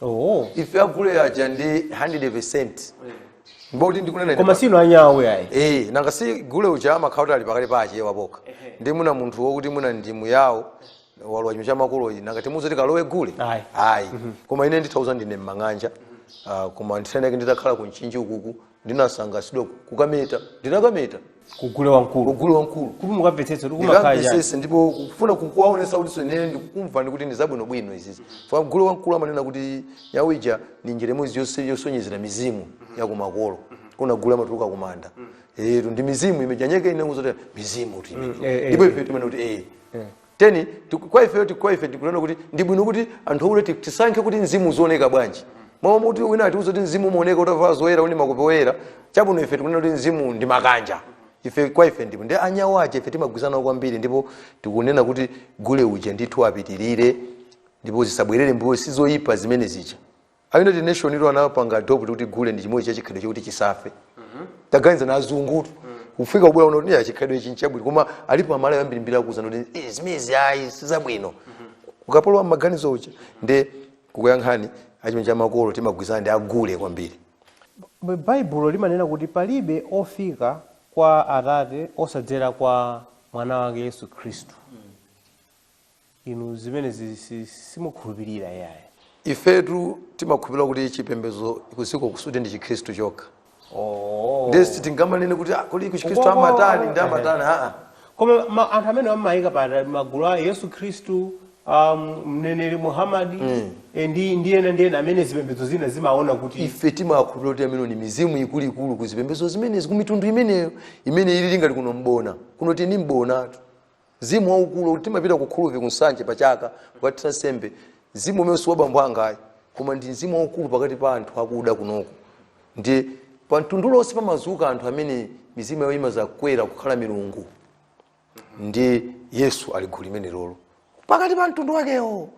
oh. ife agule aja ndi 100 percent ndikunena koma si ndife anyau ayi eh nanga si gule uja amakhala kuti ali pakati pa Achewa okha ndiye mwina munthu wokuti mwina ndi Myao walowa chimene cha makolo iyi nanga timuuza kuti kalowe gule Ayi. ayi koma ine nditakuuzani ndine mmang'anja Ah, koma ndisaname nditakhala ku Mchinji ukuku ndinasangasidwa ku- kukameta ndinakameta kugule wamkulu kugule wamkulu kuti mukamvetsetse kuti kumakhala chani ndikamvesese ndipo kufuna kukuwaonesa kuti zomwe ndikukumvani kuti ndi zabwinobwino izizi a gule wamkulu amanena kuti nyau ija ndi njira imodzi yose- yosonyezera mizimu yakumakolo kuona gule amatuluka kumanda etu ndi mizimu imene ija ndiye kunena zoti mizimu kuti imene. eh, eh. ndipo ife timene kuti ee teni tiku- kwa ifeyo tiku- kwa ife tikunena kuti ndi bwino kuti anthu akule ti- tisankhe kuti mzimu uzioneka bwanji m'malo mwakuti wina atiuza kuti mzimu umaoneka utavala zoyera uli ndi nkhope yoyera chabwino ife tikunena kuti mzimu ndi makanja ife kwa ife ndipo ndiye anyau aja ife timagwirizana nawo kwambiri ndipo tikunena kuti gule uja ndithu apitirire ndipo zisabwerere mbuyo sizoyipa zimene zija a united nation iwo anapanga adopt kuti gule ndi chimodzi cha chikhalidwe chokuti chisafe taganizani azungutu kufika kubwera kuno kuti chikhalidwe ichi nchabwino koma alipo amalawi ambirimbiri akuuzana kuti "Eh, zimenezi ayi sizabwino ukapolo wa maganizo uja ndikukuyankhani achimene cha makolo timagwirizana ndi agule kwambiri B- baibulo limanena kuti palibe ofika kwa atate osadzera kwa mwana wake yesu khristu inu zimenezi si- simukhulupirira yayi ifetu timakhulupirira kuti chipembedzo kudziko kuno sikuti ndi chikhristu chokha oh. ndiye sitingamanene kuti "Ah, kodi kuchikhristu Uko- amatani ndi amatani aa koma ma, anthu amene amaika pa magulu a yesu khristu um, mneneri muhammadi eh, ndi ndi ena ndi ena amene zipembedzo zina zimaona kuti ife timakhulupirira kuti amene ni mizimu ikuluikulu ku zipembedzo zimenezi ku mitundu imeneyo imene ili ngati kuno mbona kuno tili ndi mbonatu Mzimu waukulu kuti timapita ku Khulubvi ku Nsanje pa chaka kukathira nsembe. Mzimu umene si wa bambo anga ayi, koma ndi mzimu waukulu pakati pa anthu akuda kunoko. Ndiye pa mtundu uliwonse pamazuka anthu amene mizimu yawo imazakwera kukhala milungu. Ndi Yesu ali gulu limenelolo pakati pa mtundu wakewo.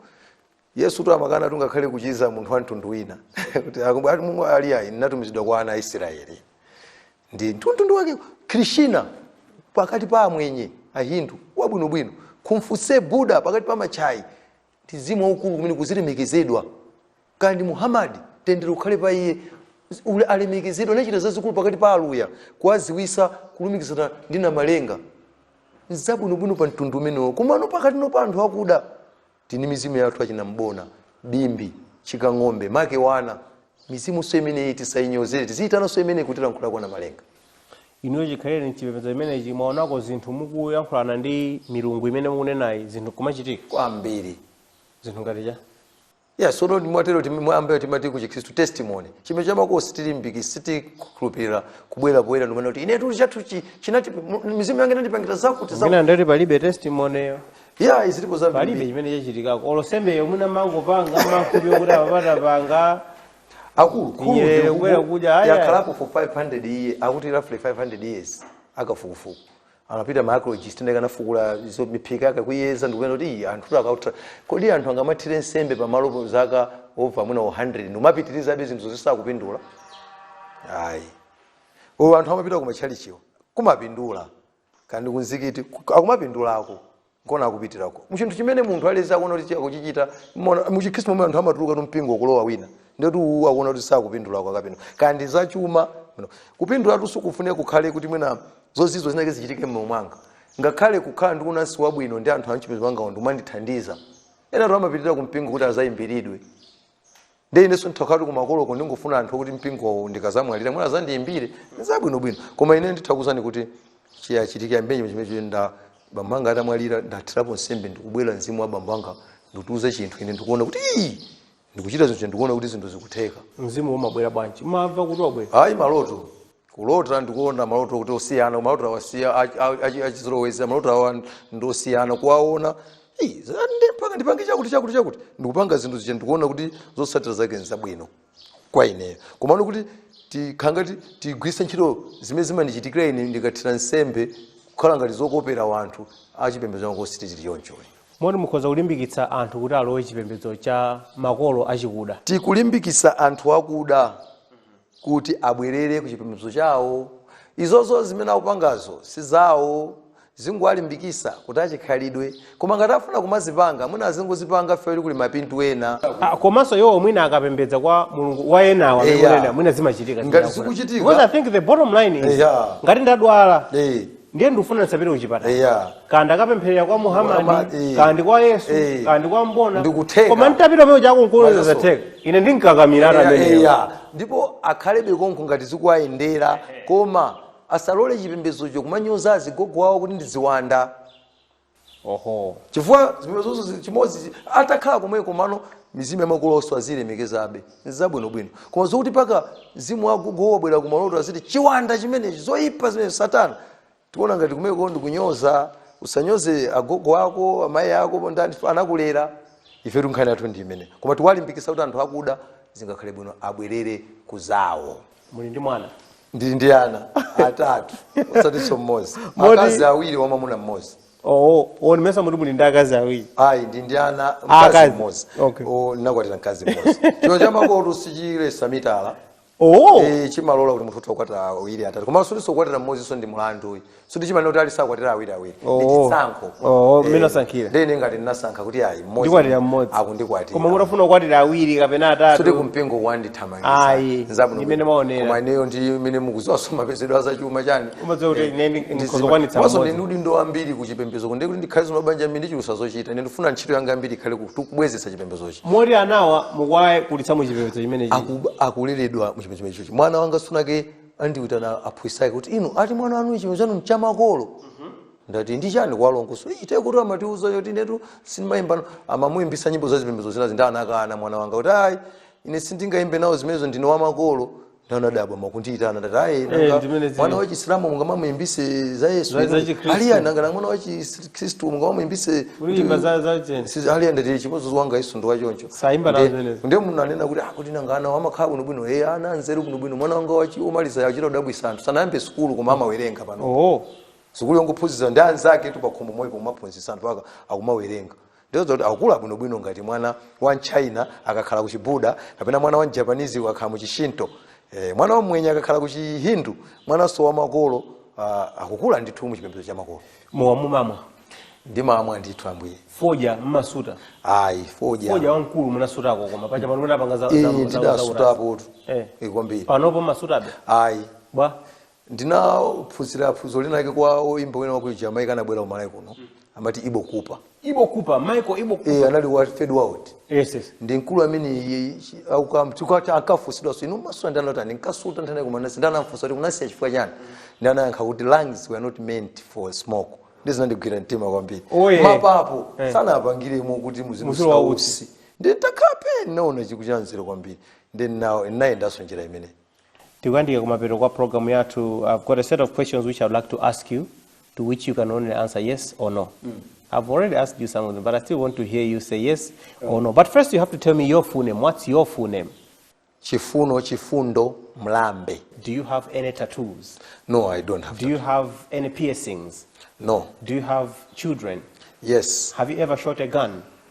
yesutu ankakana tungakhale kuchiza munthu wa mtundu wina kuti akumbu- ati mungu ali ayi ndinatumizidwa kwa ana a israeli ndi mtundu wake krishna pakati pa amwenye ahindu wabwinobwino confucius buda pakati pa machaina ndi mzimu waukulu kumene kukulemekezedwa kwa red indian muhamadi mtendere ukhale pa iye ulemu alemekezedwe anachita zazikulu pakati pa aluya kuwaziwisa kulumikizana ndi namalenga zabwinobwino pa mtundu umenewo komano pakati pano pa anthu akuda tili ndi mizimu yathu achina mbona bimbi chikang'ombe make wana mizimu so imeneyi tisainyozenso tiziitana so imeneyi kutilankhulira kwana malenga inuyo chikhalire mchipembedzo chimenechi mwaonako zinthu mukuyankhulana ndi milungu imene mukunenayi zinthu zikumachitika kwambiri zinthu ngati chani ya pajatu mwatero timi- mwa mwambi timati ku chikhristu testimony chimene chinachitikako sitilimbiki- sitikhulupirira kubwera poyera ndikumanena kuti ine tuli chathu chi- chinati mu- mizimu yange inandipangira zakuti zakuti mwina ndati palibe testimony ya izilipo palibe zambiri chimene chachitikako olo nsembeyo mwina mangopanga mankhwala okuti apapa tapanga akulu Iye khulubvi kubwera kudya, ayi, ayi. yakhalapo for 500 years akuti roughly 500 years akafukufuku anapita ma archaeologist ndikukafukula izo miphika yake kuyeza ndikupeza kuti iyi anthu kuti ankathira kodi anthu angamathire nsembe pamalo po zaka over mwina 100 ndikumapitirizabe zinthu zonse sakupindula ayi uyu anthu amapita kumatchalichiwo kumapindula kaya ndi kumzikiti ku- akumapindulako nkona akupitirako muchinthu chimene munthu aliyense akuona kuti akuchichita mona- muchikhristu momwe anthu amatuluka mumpingo kulowa wina ndikuti uwu akuona kuti sakupindulako akapindula kaya ndi zachuma no. kupindulatu sikufunika kukhale kuti mwina zozizwa zinake zichitike mmoyo mwanga ngakhale kukhala ndi unansi wabwino ndi anthu amchipembedzo changawo ndikumandithandiza ena anthu amapitirira kumpingo kuti azayimbiridwe nde inenso nditati kumakoloko ndingofuna anthu okuti mpingowo ndikadzamwalira mwina adzandiyimbire zabwinobwino koma ine ndithakuuzani kuti chiyachitike mwina chimenecho nde bambo anga atamwalira ndathirapo nsembe ndikubwera mzimu wa bambo anga ndikundiuza chinthu ine ndikuona kuti ii ndikuchita zinthu ndikuona kuti zinthu zikutheka mzimu umabwera bwanji mumamva kuti wabwera ayi maloto kulota ndikuona maloto oti osiyana ndi maloto awa aja achizolowezi maloto awa ndi osiyana kuwaona "Ih, za- ndi- mpaka ndipange chakuti chakuti chakuti ndikupanga zinthu zija ndikuona kuti zotsatira zake nzabwino kwa ineyo komano kuti tikhanga ti- tigwiritse ntchito zimene zimandichitikira ine ndikathira nsembe kukhala ngati zokopera wanthu achipembedzo changu ayi sitili choncho moti mukhoza kulimbikitsa anthu kuti alowe chipembedzo cha makolo achikuda tikulimbikisa anthu akuda kuti abwerere ku chipembedzo chawo. Izozo zimene akupangazo si zawo, tingowalimbikisa kuti achikhalidwe. Koma ngati afuna kumazipanga, mwina azingozipanga for ali kuli mapindu ena. Ah, komanso iwowo mwina akapembedza kwa mulungu wa enawo amene Eya. kunena mwina zimachitika Ngati zikuchitika. because i think the bottom line is Eya. ngati ndadwala Eh. ndiye ndikufuna ndisapite kuchipatala Eya. kaya ndikapempherera kwa muhamadi Muhammad, eh. kaya ndi kwa yesu Eh. kaya ndi kwa mbona Ndikutheka. koma nditapita kumene akunkuloza zatheka ine ndingakamira Eya, atameneyo eya. ndipo akhalebe konko ngati zikuwayendera koma asalole chipembedzocho kumanyoza azigogo awo kuti ndi ziwanda oho chifukwa zipembedzozo zi- chimodzi chi- atakhala komweko komano mizimu ya makolo onse azilemekezabe nzabwinobwino koma zokuti mpaka mzimu wagogo wabwera ku maloto aziti chiwanda chimenechi zoyipa zimenezi satana tikuona ngati kumeneko ndi kunyoza usanyoze agogo ako amayi ako amene anakulera ife nkhani yathu ndi imeneyi koma tikuwalimbikisa kuti anthu akuda zingakhale bwino abwerere ku zawo muli ndi mwana ndili ndi ana atatu osatinso mmodzi Moti- akazi awiri wamamuna mmodzi oo ndimayesa mukuti muli ndi akazi awiri ayi ndili ndi ana Ah, mkazi akazi. mmodzi Okay. O, ndinakwatira mkazi mmodzi chino chamakolotu sichiletsa mitala oo Eh, chimalola kuti munthu utha kukwatira awiri atatu koma sikutinso kukwatira mmodzinso ndi mulandu ayi sikuti chimanena kuti aliyense akwatira awiri awiri Oh. ndi chisankho Oh, Eh, mmene asankhira. ndiye ngati ndinasankha kuti ayi mmodzi ndikwatira mmodzi koma akundikwatira mutafuna kukwatira awiri kapena atatu kumpingo Ayi, wandithamangisa ndi mmene mwaonera. koma ineyo ndi mmene mukuziwa zamapezedwe azachuma chani Umadziwa kuti ine ndi- ndikhoza kukwanitsa mmodzi. ndili ndi udindo wambiri kuchipembezo kuno nde kuti ndikhale zamabanja ambiri zindichulutsa zochita ine ndifuna ntchito yanga yambiri ikhale ku- kubwezetsa chipembezochi moti anawa mukuwakulitsa mu chipembedzo chimenechi Aku- akuleredwa muchipembezo chimenechi mwana wanga tsiku linalake anandiyitana aphunzitsi ake kuti inu ati mwana wanu chipembedzo chanu mchamakolo ndati ndi chani talongosolani chifukwa amatiuza zoti inetu sindimayimba nawo amamuyimbisa nyimbo zazipembezo zinazi ndi anakana mwana wanga kuti ayi ine sindingayimbe nawo zimenezo ndine wamakolo nde anadabwa nkundiyitana ndati ayi Eh, nanga ndi mmene zili. mwana wachisilamu mungamamuyimbise za yesu Za- za Chikhristu. ali ayi nanga mwana wachi kristu mungamamuimbise kulimba za za cheni Sisi ali ayi ndati ndi chimodzimodzi wangayunso ndi wachoncho Saimba nazo zimenezo. nde monga anena kuti ah kuti nanga ana amakhala bwino bwino hey ana anzeru bwino bwino mwana wanga womaliza akuchita kudabwisa anthu sanayambe sukulu koma amawerenga pano oh sukulu yongophunzitsa ndi anzaketu pakhomo moyo pomaphunzitsana mpaka akumawerenga Ndizoona kuti akukula bwinobwino ngati mwana wa m'China akakhala ku Chibuda kapena mwana wa m'Japanese akakhala mu Chishinto, eh, mwana wa Mmwenye akakhala ku Chihindu, mwananso wa makolo ah, akukula ndithu mu chipembedzo cha makolo. mowa mumamwa Ndimamwa ndithu kwambiri. fodya mmasuta Ayi, fodya. fodya wamkulu munasutako koma paja pano munapanga za- za- Eh, za- za- za- ndidasutapotu. Eh. Eh, kwambiri. panopo mmasutabe Ayi. bwa ndinaphunzira phunziro linalake kwa oyimba wina waku jamaica anabwera ku malawi kuno amati ibo cooper ibo cooper michael ibo cooper. e, anali wa third world yes yes ndi mkulu amene iye- chi- auka- chikwa- ankafunsidwa so inu mumasuta ndi anati ayi ndinkasuta nthawi ina koma ndinasiya ndi anamfunsa kuti munasiya chifukwa chani ndi anayankha kuti lungs were not meant for smoke ndi zinandigwira mtima kwambiri Oh, yeah. mapapo Eh. sanapangiremo kuti muziro muzilowa utsi. utsi nditakhala pansi naona chinthu chanzeru kwambiri nde nane nayendanso njira imeneyi tikuyandikira kumapeto kwa program yathu i've got a set of questions which i'd like to ask you to which you can only answer yes or no i've already asked you some of them but i still want to hear you say yes or no but first you have to tell me your full name what's your full name chifuno chifundo mlambe do you have any tattoos no i don't have do you have any piercings no do you have children yes have you ever shot a gun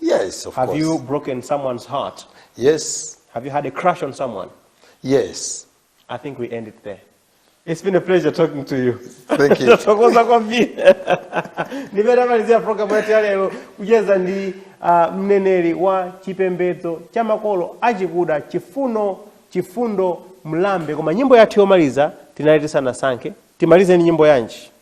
Yes, of course. Have you broken someone's heart? Yes. Have you had a crush on someone? Yes. I think we end it there. It's been a pleasure talking to you. Thank you. Tathokoza kwambiri. Ndi pamene tamalizira pulogalamu yathu ya lero kucheza ndi uh, mneneri wa chipembedzo cha makolo achikuda Chifuno Chifundo Mlambe koma nyimbo yathu yomaliza tinali tisanasankhe timalize ndi nyimbo yanji